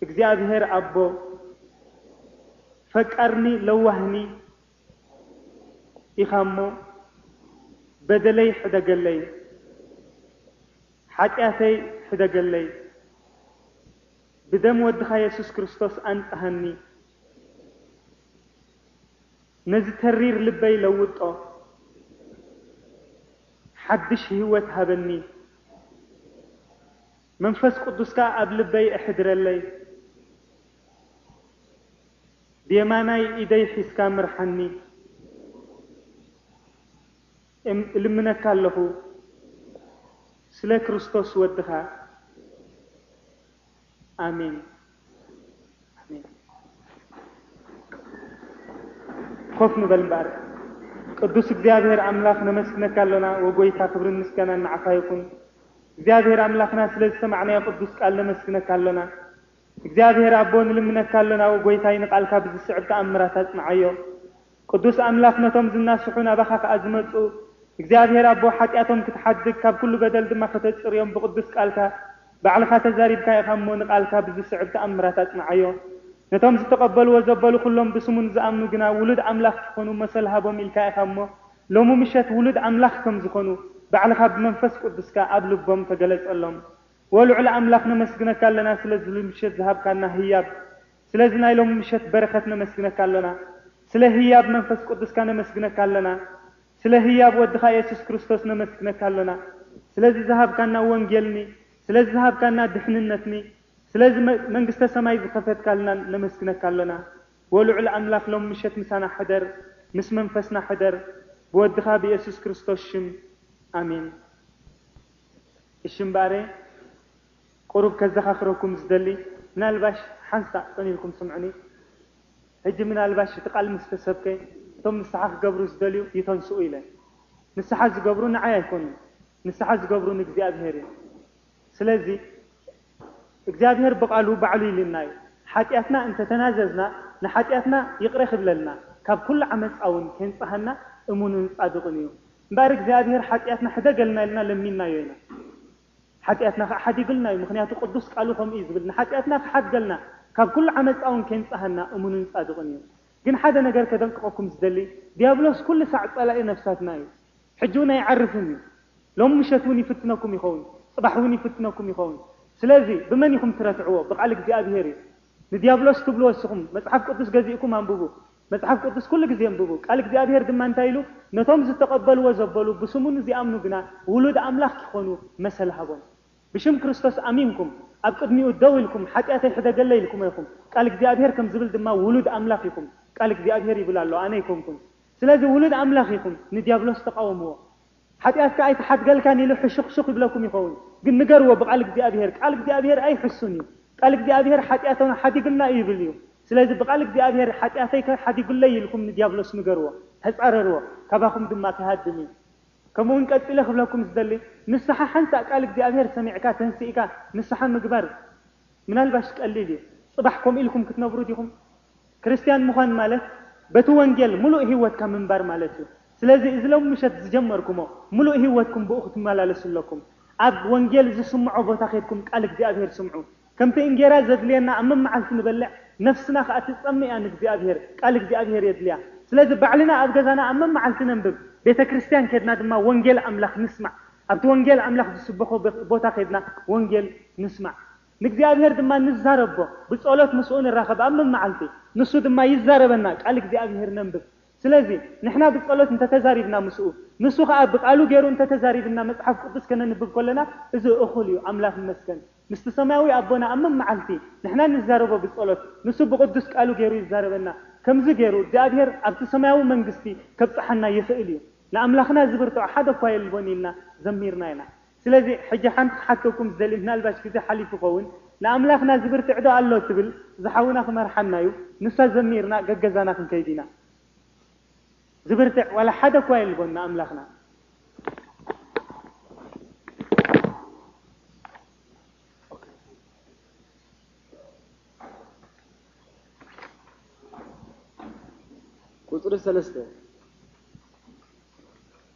እግዚኣብሔር ኣቦ ፈቃርኒ ለዋህኒ ኢካ እሞ በደለይ ሕደገለይ ሓጥያተይ ሕደገለይ ብደም ወድካ የሱስ ክርስቶስ ኣንጽሃኒ ነዚ ተሪር ልበይ ለውጦ ሓድሽ ሂወት ሃበኒ። መንፈስ ቅዱስካ ኣብ ልበይ ኣሕድረለይ ብየማናይ ኢደይ ሒዝካ ምርሓኒ እልምነካ ኣለኹ ስለ ክርስቶስ ወድኻ ኣሜን። ኮፍ ንበል እምበኣር። ቅዱስ እግዚኣብሔር ኣምላኽ ነመስግነካ ኣሎና ወጎይታ ክብርን ምስጋናን ንዓኻ ይኹን። እግዚኣብሔር ኣምላኽና ስለ ዝሰማዕናዮ ቅዱስ ቃል ነመስግነካ ኣሎና። እግዚኣብሔር ኣቦ ንልምነካ ኣሎና ወጎይታይ ንቃልካ ብዝስዕብ ተኣምራት ኣጽንዓዮ። ቅዱስ ኣምላክ ነቶም ዝናስሑ ናባኻ ከኣ ዝመጹ እግዚኣብሔር ኣቦ ሓጢኣቶም ክትሓድግ ካብ ኩሉ በደል ድማ ከተጽርዮም ብቅዱስ ቃልካ ባዕልኻ ተዛሪብካ ኢኻ እሞ ንቃልካ ብዝስዕብ ተኣምራት ኣጽንዓዮ ነቶም ዝተቀበልዎ ዘበሉ ኩሎም ብስሙ ንዝኣምኑ ግና ውሉድ ኣምላኽ ክኾኑ መሰል ሃቦም ኢልካ ኢኻ እሞ ሎሚ ምሸት ውሉድ ኣምላኽ ከም ዝኾኑ ባዕልኻ ብመንፈስ ቅዱስካ ኣብ ልቦም ተገለጸሎም ዎልዑል ኣምላኽ ነመስግነካ ኣለና ስለዝምሸት ዝሃብካና ህያብ ስለዚ ናይ ሎሚ ምሸት በረከት ነመስግነካ ኣሎና ስለ ህያብ መንፈስ ቁዱስካ ነመስግነካ ኣለና ስለ ህያብ ወድካ የሱስ ክርስቶስ ነመስግነካ ኣሎና ስለዚ ዝሃብካና ወንጌል ን ስለዚ ዝሃብካና ድሕንነት ን ስለዚ መንግስተ ሰማይ ዝከፈትካልናን ነመስግነካ ኣሎና ወልዑል ኣምላክ ሎሚ ምሸት ምሳና ሕደር ምስ መንፈስና ሕደር ብወድካ ብየሱስ ክርስቶስ ሽም ኣሜን እሺ እምበኣሬ ቁሩብ ከዘኻኽረኩም ዝደሊ ምናልባሽ ሓንሳእ ጽን ኢልኩም ስምዑኒ ሕጂ ምናልባሽ እቲ ቃል ምስ ተሰብከ እቶም ንስሓ ክገብሩ ዝደልዩ ይተንስኡ ኢለ ንስሓ ዝገብሩ ንዓይ ኣይኮኑን ንስሓ ዝገብሩ ንእግዚኣብሄር እዩ ስለዚ እግዚኣብሄር ብቃሉ ባዕሉ ኢሉና እዩ ሓጥያትና እንተ ተናዘዝና ንሓጥያትና ይቅረ ክብለልና ካብ ኩሉ ዓመጻ ውን ኬንጽሃና እሙንን ጻድቅን እዩ እምበኣር እግዚኣብሄር ሓጥያትና ሕደገልና ኢልና ለሚንናዮ ኢና ሓጢኣትና ከኣ ሓዲጉልና እዩ ምኽንያቱ ቅዱስ ቃሉ ከምኡ እዩ ዝብል ንሓጢኣትና ክሓድገልና ካብ ኩሉ ዓመጻ ውን ኬንጽሃና እሙንን ጻድቕን እዩ ግን ሓደ ነገር ከደንቅቐኩም ዝደሊ ድያብሎስ ኩሉ ሳዕ ጸላኢ ነፍሳትና እዩ ሕጂ ውን ኣይዓርፍን እዩ ሎሚ ምሸት ውን ይፍትነኩም ይኸውን ጽባሕ ውን ይፍትነኩም ይኸውን ስለዚ ብመን ኢኹም ትረትዕዎ ብቃል እግዚኣብሄር እዩ ንድያብሎስ ትብልዎ እስኹም መጽሓፍ ቅዱስ ገዚእኩም ኣንብቡ መጽሓፍ ቅዱስ ኩሉ ግዜ ኣንብቡ፣ ቃል እግዚኣብሄር ድማ እንታይ ኢሉ፣ ነቶም ዝተቐበልዎ ዘበሉ ብስሙ ንዚኣምኑ ግና ውሉድ ኣምላኽ ኪኾኑ መሰል ሃቦም። ብሽም ክርስቶስ ኣሚንኩም ኣብ ቅድሚኡ ደው ኢልኩም ሓጢኣተይ ሕደገለይ ኢልኩሞ ኢኹም። ቃል እግዚኣብሄር ከም ዝብል ድማ ውሉድ ኣምላኽ ኢኹም። ቃል እግዚኣብሄር ይብል ኣሎ ኣነ ኣይኮንኩን። ስለዚ ውሉድ ኣምላኽ ኢኹም ንድያብሎስ ተቓወምዎ። ሓጢኣትካ ኣይተሓድገልካን ኢሉ ሕሹኽሹኽ ይብለኩም ይኸውን ግን ንገርዎ ብቃል እግዚኣብሄር ቃል እግዚኣብሄር ኣይሕሱን እዩ ቃል እግዚኣብሄር ሓጢኣቶና ሓዲግልና እዩ ይብል እዩ ስለዚ ብቃል እግዚኣብሄር ሓጢኣተይ ከ ሓዲጉለይ ኢልኩም ንድያብሎስ ንገርዎ ተጻረርዎ ካባኹም ድማ ክሃድም እዩ ከምኡውን ቀጺለ ክብለኩም ዝደሊ ንስሓ ሓንሳእ ቃል እግዚኣብሄር ሰሚዕካ ተንሲእካ ንስሓ ምግባር ምናልባሽ ቀሊል እዩ ጽባሕ ከምኡ ኢልኩም ክትነብሩ ዲኹም ክርስትያን ምዃን ማለት በቲ ወንጌል ምሉእ ህይወትካ ምንባር ማለት እዩ። ስለዚ እዚ ሎሚ ምሸት ዝጀመርኩሞ ምሉእ ህይወትኩም ብኡ ክትመላለሱ ኣለኩም። ኣብ ወንጌል ዝስምዖ ቦታ ኬድኩም ቃል እግዚኣብሄር ስምዑ። ከምቲ እንጌራ ዘድልየና ኣብ መመዓልቲ ንበልዕ ነፍስና ከኣ ትጸምእ እያ ንእግዚኣብሄር ቃል እግዚኣብሄር የድልያ። ስለዚ ባዕልና ኣብ ገዛና ኣብ መመዓልቲ ነንብብ። ቤተ ክርስትያን ኬድና ድማ ወንጌል ኣምላኽ ንስማዕ። ኣብቲ ወንጌል ኣምላኽ ዝስበኾ ቦታ ኬድና ወንጌል ንስማዕ። ንእግዚኣብሔር ድማ ንዛረቦ፣ ብጸሎት ምስኡ ንራኸብ ኣብ መመዓልቲ፣ ንሱ ድማ ይዛረበና፣ ቃል እግዚኣብሔር ነንብብ። ስለዚ ንሕና ብጸሎት እንተ ተዛሪብና ምስኡ፣ ንሱ ኸኣ ብቃሉ ገሩ እንተ ተዛሪብና መጽሓፍ ቅዱስ ከነንብብ ከሎና እዚ እኹል እዩ። ኣምላኽ ይመስገን ምስቲ ሰማያዊ ኣቦና ኣብ መመዓልቲ ንሕና ንዛረቦ ብጸሎት ንሱ ብቅዱስ ቃሉ ገሩ ይዛረበና። ከምዚ ገሩ እግዚኣብሔር ኣብቲ ሰማያዊ መንግስቲ ከብጽሓና ይኽእል እዩ። ንኣምላኽና ዝብርትዖ ሓደ እኳ የልቦን ኢልና ዘሚርና ኢና። ስለዚ ሕጂ ሓንቲ ክሓተኩም ዝደሊ ምናልባሽ ግዜ ሓሊፉ ይኸውን ንኣምላኽና ዝብርትዕ'ዶ ኣሎ ትብል ዝሓውና ክመርሓና'ዩ ንሳ ዘሚርና ገገዛና ክንከይድ ኢና ዝብርትዕ ዋላ ሓደ እኳ የልቦን ንኣምላኽና ቁጽሪ ሰለስተ።